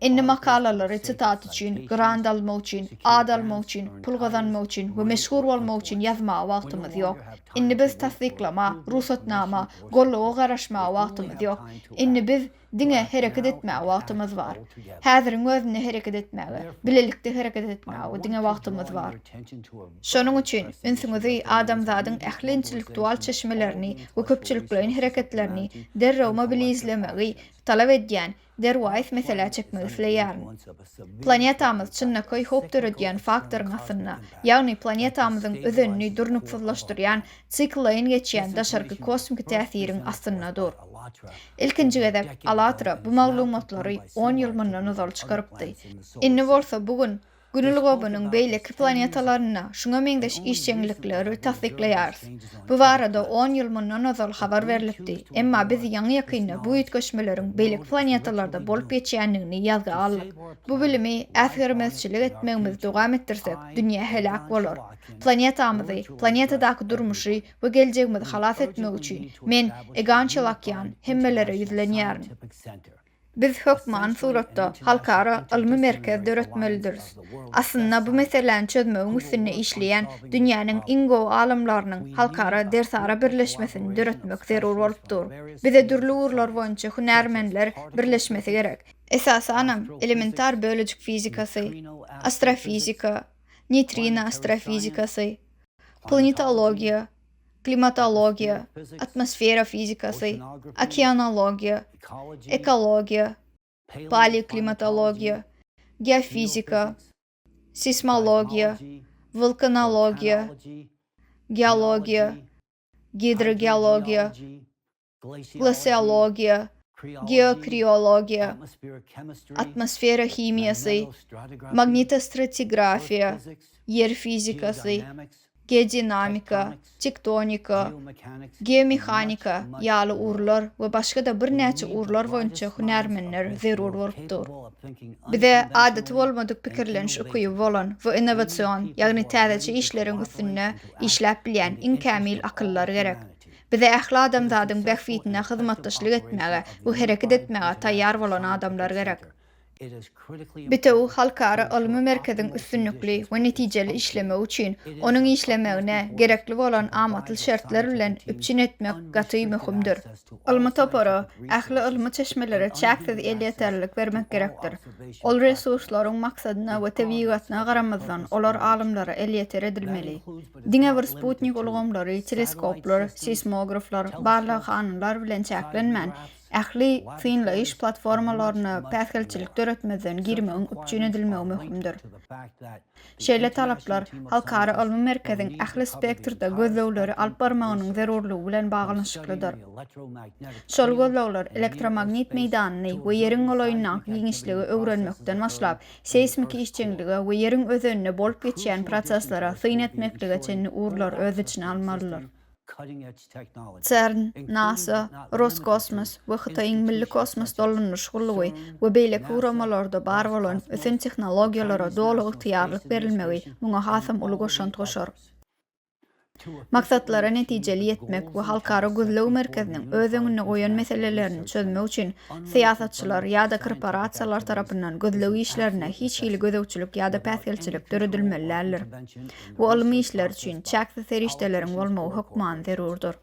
Indi makalalary sitat üçin, grant almak üçin, at almak üçin, pul gazanmak üçin we meşhur bolmak üçin ýazmaga wagtymyz ýok. Indi biz tassyklama, rugsatnama, golluga garaşmaga wagtymyz ýok. Indi biz diňe hereket etmäge wagtymyz bar. Häziriň özünde hereket etmäge, bilelikde hereket etmäge diňe wagtymyz bar. Şonuň üçin, ünsüňizi adamzadyň ähli intellektual çeşmelerini we köpçülikleýin hereketlerini derrew mobilizlemegi talap edýän derwaýys meselä çekmek isleýärin. Planetamyz çynlakaý howp döredýän faktoryň astynda, ýagny planetamyzyň özenini durnuksyzlaşdyrýan siklleýin geçýän daşarky kosmiki täsiriň astynda dur. Ilkinji gezek AllatRa bu maglumatlary on ýyl mundan ozal çykarypdy. Indi bolsa bu gün Gün ulgamynyň beýleki planetalarynda şuňa meňzeş işjeňlikleri tassyklaýarys. Bu barada on ýyl mundan ozal habar berlipdi, emma biz ýaňy-ýakynda bu üýtgeşmeleriň beýleki planetalarda bolup geçýändigini ýazga aldyk. Bu bilimi äsgermezçilik etmegimizi dowam etdirsek, dünýä heläk bolar. Planetamyzy, planetadaky durmuşy we geljegimizi halas etmek üçin, men, Egan Çelakýan, hemmelere ýüzlenýärin. Biz hökman suratda halkara ylmy merkez döretmelidiris. Aslynda bu meseläni çözmegiň üstünde işleýän dünýäniň iň gowy alymlarynyň halkara dersara birleşmesini döretmek zerur bolup dur. Bize dürli ugurlar boýunça hünärmenler birleşmesi gerek. Esasanam, elementar bölejik fizikasy, astrofizika, neýtrino astrofizikasy, planetologiýa, klimatologiýa, atmosfera fizikasy, okeanologiýa, ekologiýa, paleoklimatologiýa, geofizika, seýsmologiýa, wulkanologiýa, geologiýa, gidrogeologiýa, Glaseologiýa, geokriologiýa, atmosfera himiýasy, magnitostratigrafiýa, ýer fizikasy, geodinamika, tektonika, geomehanika ýaly ugurlar we başga-da birnäçe ugurlar boýunça hünärmenler zerur bolup dur. Bize adaty bolmadyk pikirleniş ukyby bolan we innowasion, ýagny täzeçe işleriň üstünde işläp bilýän iň kämil akyllar gerek. Bize ähli adamzadyň bähbidine hyzmatdaşlyk etmäge we hereket etmäge taýýar bolan adamlar gerek. Bitewi halkara ylmy merkeziň üstünlikli we netijeli işlemegi üçin onuň işlemegine gerekli bolan amatly şertler bilen üpjün etmek gaty möhümdir. Ylmy topara, ähli ylmy çeşmelere çäksiz elýeterlilik bermek gerekdir. Ol resurslaryň maksadyna we tebigatyna garamazdan, olar alymlara elýeter edilmeli. Diňe bir sputnik ulgamlary, teleskoplar, seýsmograflar, barlaghanalar bilen çäklenmän, ähli synlaýyş platformalaryna päsgelçilik döretmezden girmegiň üpjün edilmegi möhümdir. Şeýle talaplar Halkara ylmy merkeziň ähli spektrde gözlegleri alyp barmagynyň zerurlygy bilen baglanyşyklydyr. Şol gözlegler elektromagnit meýdanyny we Ýeriň golaýyndaky giňişligi öwrenmekden başlap, seýsmiki işjeňlige we ýeriň özeninde bolup geçýän proseslere syn etmeklige çenli ugurlary öz içine almalydyr. CERN, nasa, Roskosmos we Hytaýyň Milli kosmos dolandyryş gullugy we beýleki guramalarda bar bolan ösen tehnologiýalara doly ygtyýarlyk berilmegi muňa hasam uly goşant goşar. Maksatlara netijeli ýetmek we Halkara gözleg merkeziniň öz öňünde goýan meselelerini çözmek üçin syýasatçylar ýa-da korporasiýalar tarapyndan gözleg işlerine hiç hili gözegçilik ýa-da päsgelçilik döredilmeli däldir. Bu ylmy işler üçin çäksiz serişdeleriň bolmagy hökman zerurdyr.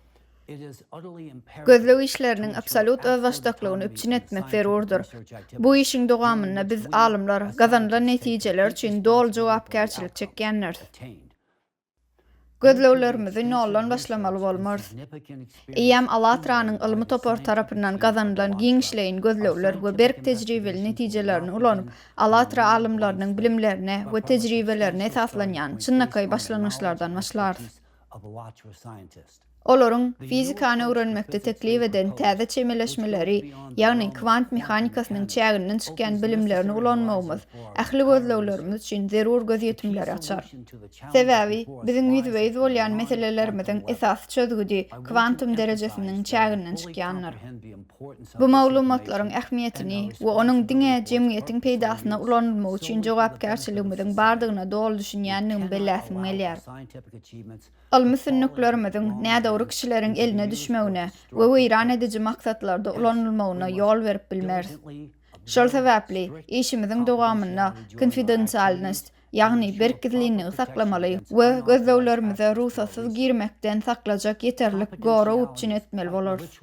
Gözleg işleriniň absolýut özbaşdaklygyny üpjün etmek zerurdyr. Bu işiň dowamynda biz, alymlar, gazanylan netijeler üçin doly jogapkärçilik çekýändiris. Gözleglerimizi noldan başlamaly bolmarys. Eýýäm ALLATRA-nyň ylmy topary tarapyndan gazanylan giňişleýin gözlegler we berk tejribeli netijelerini ulanyp, ALLATRA alymlarynyň bilimlerine we tejribelerine esaslanýan çynlakaý başlangyçlardan başlarys. Olaryň fizikany öwrenmekde teklip eden täze çemeleşmeleri, ýagny kwant mehanikasynyň çäginden çykýan bilimlerini ulanmagymyz ähli gözleglerimiz üçin zerur gözýetimleri açar. Sebäbi biziň ýüzbe-ýüz bolýan meselelerimiziň esasy çözgüdi kwantum derejesiniň çäginden çykýandyr. Bu maglumatlaryň ähmiýetini we onuň diňe jemgyýetiň peýdasyna ulanylmagy üçin jogapkärçiligimiziň bardygyna doly düşünýändigimi belläsim gelýär. Ylmy sünnüklerimiziň nädogry kişileriň eline düşmegine we weýran ediji maksatlarda ulanylmagyna ýol berip bilmeris. Şol sebäpli işimiziň dowamynda konfidensialnost, ýagny berk gizlinligi saklamaly we gözleglerimize rugsatsyz girmekden saklajak ýeterlik gorag üpjün etmeli bolarys.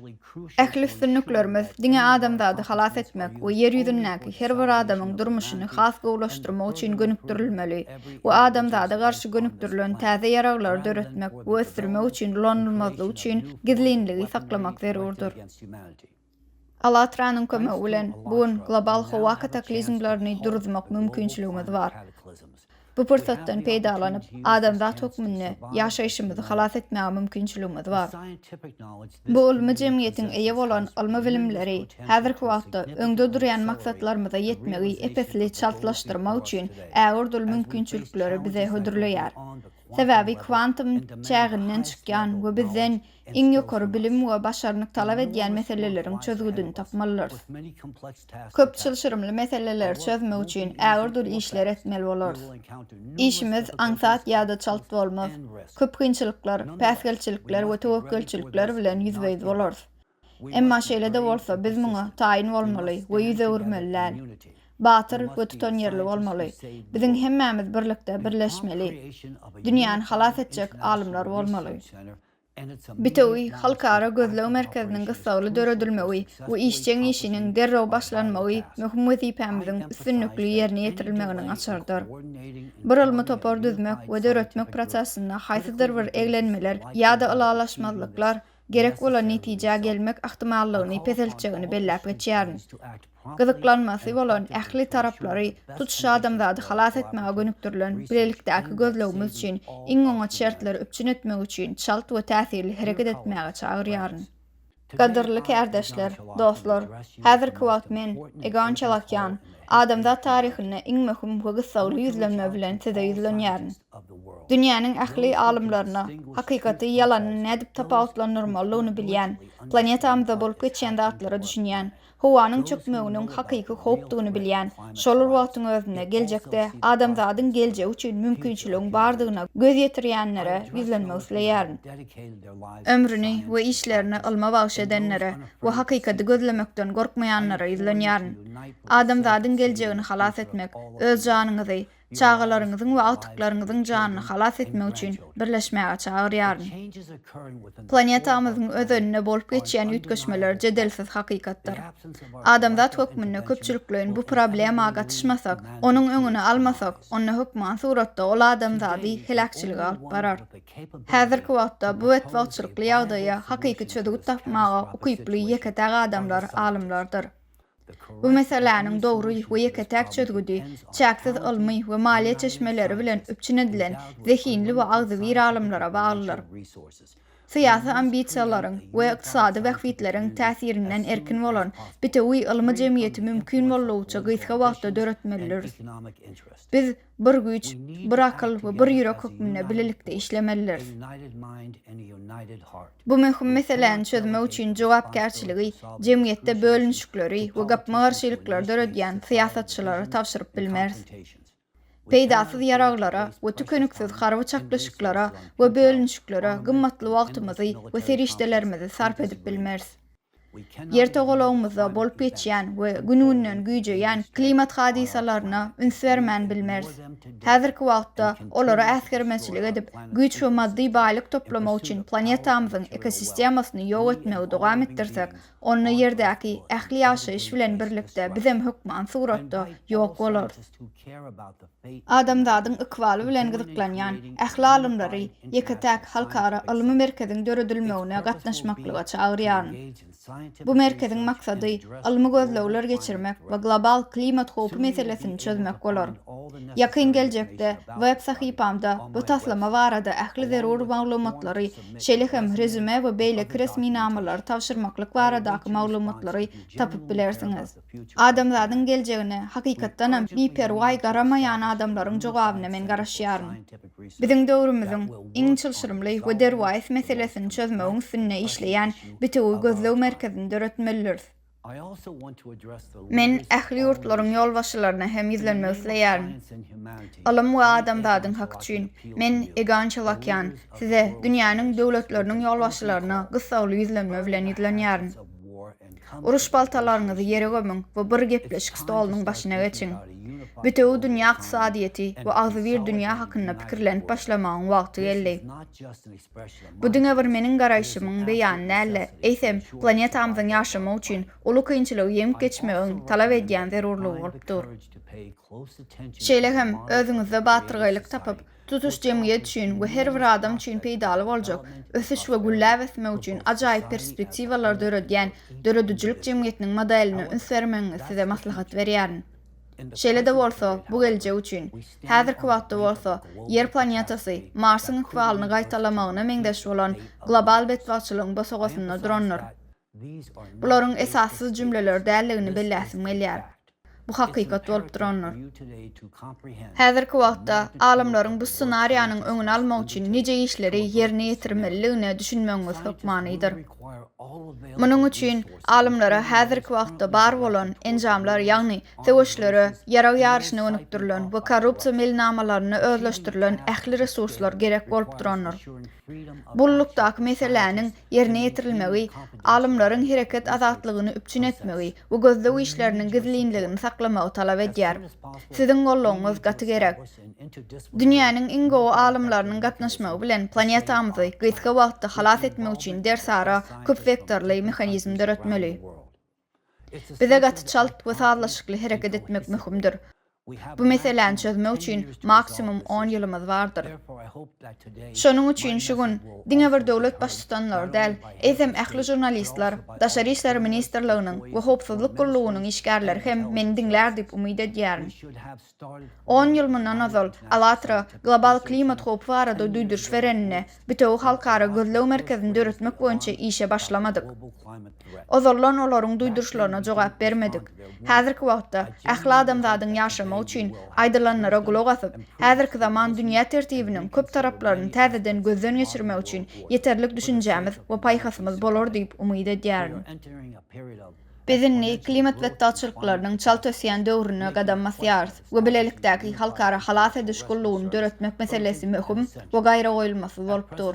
Ähli üstünliklerimiz diňe adamzady halas etmek we ýer ýüzündäki her bir adamyň durmuşyny has gowulaşdyrmak üçin gönükdirilmeli we adamzada garşy gönükdirilen täze ýaraglary döretmek we ösdürmek üçin ulanylmazlygy üçin gizlinligi saklamak zerurdyr. Allatranyň kömegi bilen, bu gün global howa kataklizmlerini duruzmak mümkinçiligimiz bar. Bu pursatdan peýdalanyp, adamzat hökmünde ýaşaýşymyzy halas etmäge mümkinçiligimiz bar. Bu ylmy jemgyýetiň eýe bolan ylmy bilimleri häzirki wagtda öňde durýan maksatlarymyza ýetmegi ep-esli çaltlaşdyrmak üçin ägirt uly mümkinçilikleri bize hödürleýär. Sebäbi kwantum çäginden çykýan we bizden iň ýokary bilim we başarnyk talap edýän meseleleriň çözgüdini tapmalydyrs. Köp çylşyrymly meseleleri çözmek üçin ägirdür işler etmeli bolarys. Işimiz aňsat ýa-da çalt bolmaz. Köp kynçylyklar, päsgelçilikler we töwekgelçilikler bilen ýüzbe-ýüz bolarys. Emma şeýle-de bolsa, biz muňa taýyn bolmaly we ýüz öwürmeli däl. Batyr we tutanýerli bolmaly. Biziň hemmämiz birlikde birleşmeli. Dünýäni halas etjek alymlar bolmaly. Bitewi halkara gözleg merkeziniň gyssagly döredilmegi we işjeň işiniň derrew başlanmagy möhüm wezipämiziň üstünlikli ýerine ýetirilmeginiň açarydyr. Bir ylmy topar düzmek we döretmek prosesinde haýsydyr bir eglenmeler ýa-da ylalaşmazlyklar gerek bolan netijä gelmek ahtimallygyny peseltjegini belläp geçýärin. Gyzyklanmasy bolan ähli taraplary, tutuş adamzady halas etmäge gönükdirilen bilelikdäki gözlegimiz üçin iň oňat şertleri üpjün etmek üçin çalt we täsirli hereket etmäge çagyrýaryn. Gadyrly kärdeşler, dostlar, häzirki wagt men, Egon Çalakýan, adamzat taryhynda iň möhüm we gyssagly ýüzlenme bilen size ýüzlenýärin. Dünýäniň ähli alymlaryna, hakykaty ýalanyny nädip tapawutlandyrmalydygyny bilýän, planetamyzda bolup geçýän zatlara düşünýän, howanyň çökmeginiň hakyky howpdugyny bilýän, şol bir wagtyň özünde geljekde adamzadyň geljegi üçin mümkinçiligiň bardygyna göz ýetirýänlere ýüzlenmek isleýärin. Ömrüni we işlerini ylma bagyş edenlere we hakykaty gözlemekden gorkmaýanlara ýüzlenýärin. Adamzadyň geljegini halas etmek, öz janyňyzy, çagalaryňyzyň we agtyklaryňyzyň janyny halas etmek üçin birleşmäge çagyrýaryn. Planetamyzyň özeninde bolup geçýän üýtgeşmeler jedelsiz hakykatdyr. Adamzat hökmünde köpçülikleýin bu problema gatyşmasak, onuň öňüni almasak, onda hökman suratda ol adamzady heläkçilige alyp barar. Häzirki wagtda bu betbagtçylykly ýagdaýa hakyky çözgüt tapmaga ukyply ýeke-täk adamlar alymlardyr. Bu meseläniň dogry we ýeke-täk çözgüdi, çäksiz ylmy we maliýe çeşmeleri bilen üpjün edilen zehinli we agzybir alymlara baglydyr. Syýasy ambisiýalaryň we ykdysady bähbitleriň täsirinden erkin bolan bitewi ylmy jemgyýeti mümkin boldugyça gysga wagtda döretmelidiris. Biz Bir güýç, bir akyl we bir ýürek hökmünde bilelikde işlemelidiris. Bu möhüm meseläni çözmek üçin jogapkärçiligi jemgyýetde bölünişikleri we gapma-garşylyklary döredýän syýasatçylara tabşyryp bilmeris. Peýdasyz ýaraglara we tükeniksiz harby çaknyşyklara we bölünişiklere gymmatly wagtymyzy we serişdelerimizi sarp edip bilmeris. Ýer togalagymyzda bolup geçýän we gün-günden güýjeýän klimat hadysalaryna üns bermän bilmeris. Häzirki wagtda olara äsgermeçilik edip, güýç we maddy baýlyk toplamak üçin planetamyzyň ekosistemasyny ýok etmegi dowam etdirsek, onda Ýerdäki ähli ýaşaýyş bilen birlikde bizem hökman suratda ýok bolarys. adamzadyň ykbaly bilen gyzyklanýan ähli alymlary ýeke-täk halkara ylmy merkeziň döredilmegine gatnaşmaklyga çagyrýaryn. Bu merkeziň maksady ylmy gözlegler geçirmek we global klimat howpy meselesini çözmek bolar. Ýakyn geljekde web sahypamda bu taslama barada ähli zerur maglumatlary, şeýle hem rezüme we beýleki resminamalary tabşyrmaklyk baradaky maglumatlary tapyp bilersiňiz. Adamzadyň geljegine, hakykatdanam, biperwaý garamaýan adamlaryň jogabyna men garaşýaryn. Biziň döwrümiziň iň çylşyrymly we derwaýys meselesini çözmegiň üstünde işleýän bitewi gözleg merkezini döretmelidiris. Men ähli ýurtlaryň ýolbaşçylaryna hem ýüzlenmek isleýärin. Ylym we adamzadyň haky üçin, men, Egon Çalakýan, size, dünýäniň döwletleriniň ýolbaşçylaryna gyssagly ýüzlenme bilen ýüzlenýärin. Uruş paltalaryňyzy ýere gömüň we bir gepleşik stolunyň başyna geçiň. Bütewi dünýä ykdysadyýeti we agzybir dünýä hakynda pikirlenip başlamagyň wagty geldi. Bu diňe bir meniň garaýşymyň beýany däl-de, eýsem, planetamyzyň ýaşamak üçin uly kynçylygy ýeňip geçmegiň talap edýän zerurlygy bolup dur. Şeýle hem, özüňizde batyrgaýlyk tapyp, tutuş jemgyýet üçin we her bir adam üçin peýdaly boljak, ösüş we gülläp ösmek üçin ajaýyp perspektiwalary döredýän döredijilik jemgyýetiniň modeline üns bermegiňizi size maslahat berýärin. Şeýle-de bolsa, bu geljek üçin. Häzirki wagtda bolsa, Ýer planetasy Marsyň ykbalyny gaýtalamagyna meňzeş bolan global betbagtçylygyň bosagasynda durandyr. Bularyň esassyz jümleler däldigini belläsim gelýär. Bu hakykat bolup durandyr. Häzirki wagtda alymlaryň bu ssenariýanyň öňüni almak üçin nije işleri ýerine ýetirmelidigine düşünmegiňiz hökmanydyr. Munuň üçin alymlara häzirki wagtda bar bolan enjamlar ýagny söweşlere, ýarag ýaryşyna gönükdirilen we korrupsiýa meýilnamalaryna özleşdirilen ähli resurslar gerek bolup durandyr. Gullukdaky meseläniň ýerine ýetirilmegi alymlaryň hereket azatlygyny üpjün etmegi we gözleg işleriniň gizlinligini saklamagy talap edýär. Siziň goldawyňyz gaty gerek. Dünýäniň iň gowy alymlarynyň gatnaşmagy bilen planetamyzy gysga wagtda halas etmek üçin dersara köpwektorly mehanizm döretmeli. Bize gaty çalt we sazlaşykly hereket etmek möhümdir. Bu meseläni çözmek üçin maksimum on ýylymyz bardyr. Şonuň üçin şu gün diňe bir döwlet baştutanlary däl, eýsem ähli žurnalistler, Daşary işler ministrliginiň we Howpsuzlyk gullugynyň işgärleri hem meni diňlär diýip umyt edýärin. On ýyl mundan ozal, Alatra global klimat howpy barada duýduryş bereninde, bitewi halkara gözleg merkezini döretmek boýunça işe başlamadyk. Ozaldan olaryň duýduryşlaryna jogap bermedik. Häzirki wagtda, ähli adamzadyň ýaşamagy üçin aýdylanlara gulak asyp, häzirki zaman dünýä tertibiniň köp taraplaryny täzeden gözden geçirmek üçin ýeterlik düşünjämiz we paýhasymyz bolar diýip umyt edýärin. Biz indi klimat betbagtçylyklarynyň çalt ösýän döwrüne gadam basýarys we bilelikdäki halkara halas ediş gullugyny döretmek meselesi möhüm we gaýragoýulmasyz bolup dur.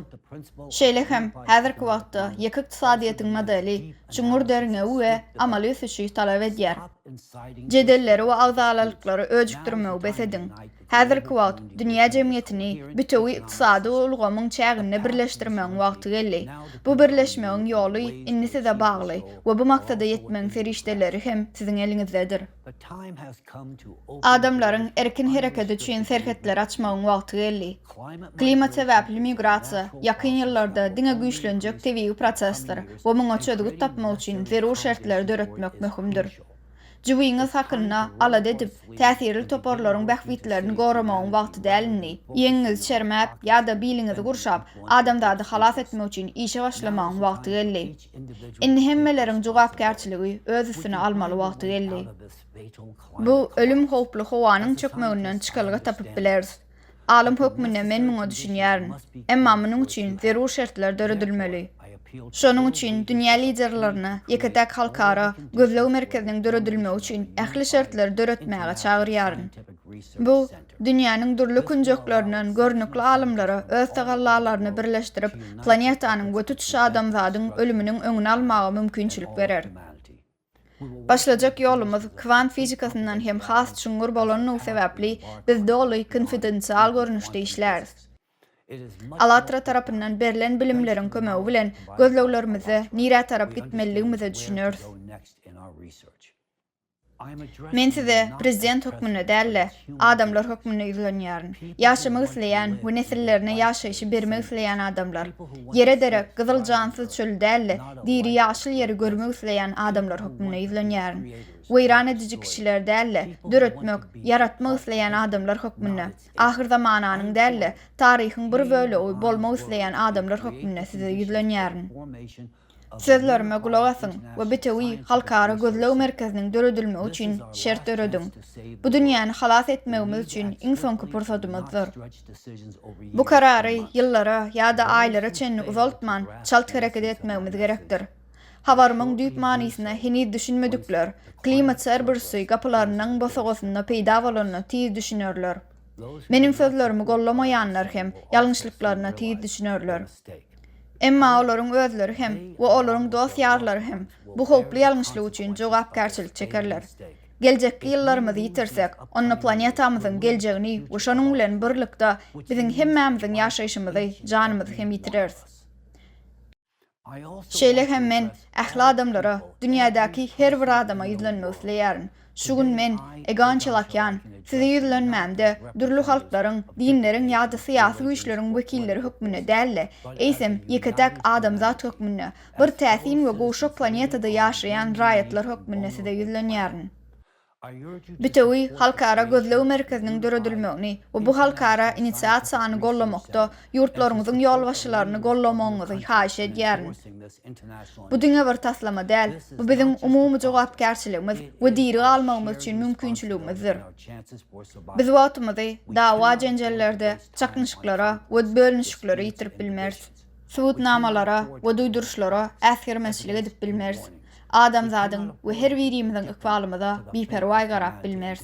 Şeýle hem, häzirki wagtda ýeke ykdysadyýetiň modeli çuňňur derňewi we amaly ösüşi talap edýär. Jedelleri we agzalalyklary öjükdirmegi bes ediň. Häzirki wagt dünýä jemgyýetini bütewi ykdysady ulgamyň çäginde birleşdirmegiň wagty geldi. Bu birleşmegiň ýoly indi size bagly we bu maksada ýetmegiň serişdeleri hem siziň eliňizdedir. Adamlaryň erkin hereketi üçin serhetleri açmagyň wagty geldi. Klimat sebäpli migrasiýa ýakyn ýyllarda diňe güýçlenjek tebigy prosesdir we muňa çözgüt tapmak üçin zerur şertleri döretmek möhümdir. Jybyňyz hakynda alada edip, täsirli toparlaryň bähbitlerini goramagyň wagty däl indi. Ýeňiňizi çermäp ýa-da biliňizi gurşap, adamzady halas etmek üçin işe başlamagyň wagty geldi. Indi hemmeleriň jogapkärçiligi öz üstüne almaly wagty geldi. Bu ölüm howply howanyň çökmeginden çykalga tapyp bileris. Alym hökmünde men muňa düşünýärin. Emma munuň üçin zerur şertler döredilmeli. Şonuň üçin dünýä liderlerini ýeke-täk halkara gözleg merkeziniň döredilmegi üçin ähli şertleri döretmäge çagyrýaryn. Bu, dünýäniň dürli künjeklerinden görnükli alymlary öz tagallalaryny birleşdirip, planetanyň we tutuş adamzadyň ölüminiň öňüni almaga mümkinçilik berer. Başlajak ýolumyz kwant fizikasyndan hem has çuňňur bolandygy sebäpli, biz doly konfidensial görnüşde işläris. Allatra tarapyndan berlen bilimleriň kömegi bilen gözleglerimizde nirä tarap gitmelidigimize düşüneris. Men size prezident hökmünde däl-de, Adamlar hökmünde ýüzlenýärin. Ýaşamak isleýän we nesillerine ýaşaýşy bermek isleýän adamlar. Ýere derek, gyzyl jansyz çöl däl-de, diri ýaşyl ýeri görmek isleýän adamlar hökmünde ýüzlenýärin. Weýran ediji kişiler däl-de, döretmek, ýaratmak isleýän adamlar hökmünde, ahyr zamananyň däl-de, taryhyň bir bölegi bolmak isleýän adamlar hökmünde size ýüzlenýärin. Sözlerime gulak asyň we bitewi halkara gözleg merkeziniň döredilmegi üçin şert dörediň. Bu dünýäni halas etmegimiz üçin iň soňky pursadymyzdyr. Bu karary ýyllara ýa-da aýlara çenli uzaltman, çalt hereket etmegimiz gerekdir. Habarymyň düýp manysyna heniz düşünmedikler Klimat Serbursi gapylarynyň bosagasynda peýda bolanda tiz düşünerler. Meniň sözlerimi gollamaýanlar hem ýalňyşlyklaryna tiz düşünerler. Emma olaryň özleri hem we olaryň dost-ýarlary hem bu howply ýalňyşlyk üçin jogapkärçilik çekerler. Geljekki ýyllarymyzy ýitirsek, onda planetamyzyň geljegini we şonuň bilen birlikde biziň hemmämiziň ýaşaýşymyzy, janymyzy hem ýitireris. Şeýle hem men ähli adamlara, dünýädäki her bir adama ýüzlenmek isleýärin. Şu gün men, Egon Çelakýan, size ýüzlenmämde, dürli halklaryň, dinleriň ýa-da syýasy güýçleriň wekilleri hökmünde däl-de, eýsem, ýeke-täk adamzat hökmünde, bir täsin we gowşak planetada ýaşaýan raýatlar hökmünde size ýüzlenýärin. Bütewi halkara gözleg merkeziniň döredilmegini we bu halkara inisiasiýany gollamakda Ýurtlaryňyzyň ýolbaşçylaryny gollamagyňyzy haýyş edýärin. Bu diňe bir taslama däl, bu biziň umumy jogapkärçiligimiz we diri galmagymyz üçin mümkinçiligimizdir. Biz wagtymyzy dawa-jenjellerde, çaknyşyklara we bölünişiklere ýitirip bilmeris. Subutnamalara we duýduryşlara äsgermezçilik edip bilmeris. adamzadyň we her birimiziň ykbalymyza biperwaý garap bilmeris.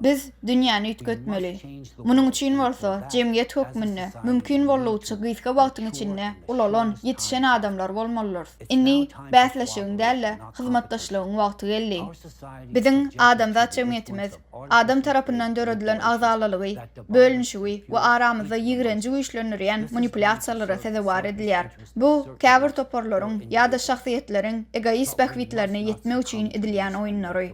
Biz dünýäni üýtgetmeli. Munuň üçin bolsa jemgyýet hökmünde mümkin boldugyça gysga wagtyň içinde ulalan, ýetişen adamlar bolmalydyrys. Indi bäsleşigiň däl-de, hyzmatdaşlygyň wagty geldi. Biziň adamzat jemgyýetimiz adam tarapyndan döredilen agzalalygy, bölünişigi we aramyzda ýigrenji güýçlendirýän manipulýasiýalara sezewar edilýär. Bu, käbir toparlaryň ýa-da şahsyýetleriň egoist bähbitlerine ýetmek üçin edilýän oýunlary.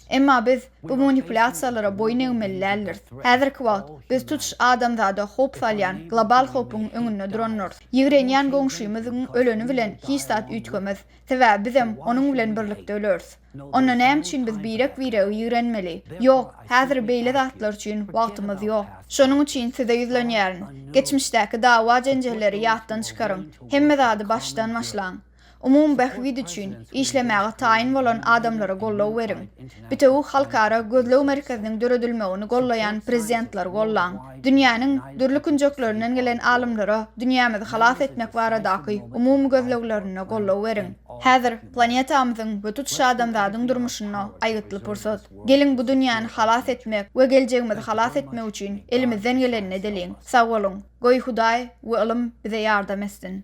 Emma biz bu manipulýasiýalara boýun egmeli däldiris. Häzirki wagt biz tutuş adamzada howp salýan global howpuň öňünde durandyrs. Ýigrenýän goňşymyzyň öleni bilen hiç zat üýtgemez, sebäbi bizem onuň bilen birlikde öleris. Onda näme üçin biz birek-biregi ýigrenmeli? Ýok, häzir beýle zatlar üçin wagtymyz ýok. Şonuň üçin size ýüzlenýärin, geçmişdäki dawa-jenjelleri ýatdan çykaryň, hemme zady başdan başlaň. Umumy bähbit üçin işlemäge taýyn bolan adamlara goldaw beriň. Bitewi halkara gözleg merkeziniň döredilmegini gollaýan prezidentleri gollaň. Dünýäniň dürli künjeklerinden gelen alymlara dünýämizi halas etmek baradaky umumy gözleglerinde goldaw beriň. Häzir Planetamyzyň we tutuş adamzadyň durmuşynda aýgytly pursat. Geliň bu dünýäni halas etmek we geljegimizi halas etmek üçin elimizden gelenini edeliň. Sag boluň. Goý Hudaý we ylym bize ýardam etsin.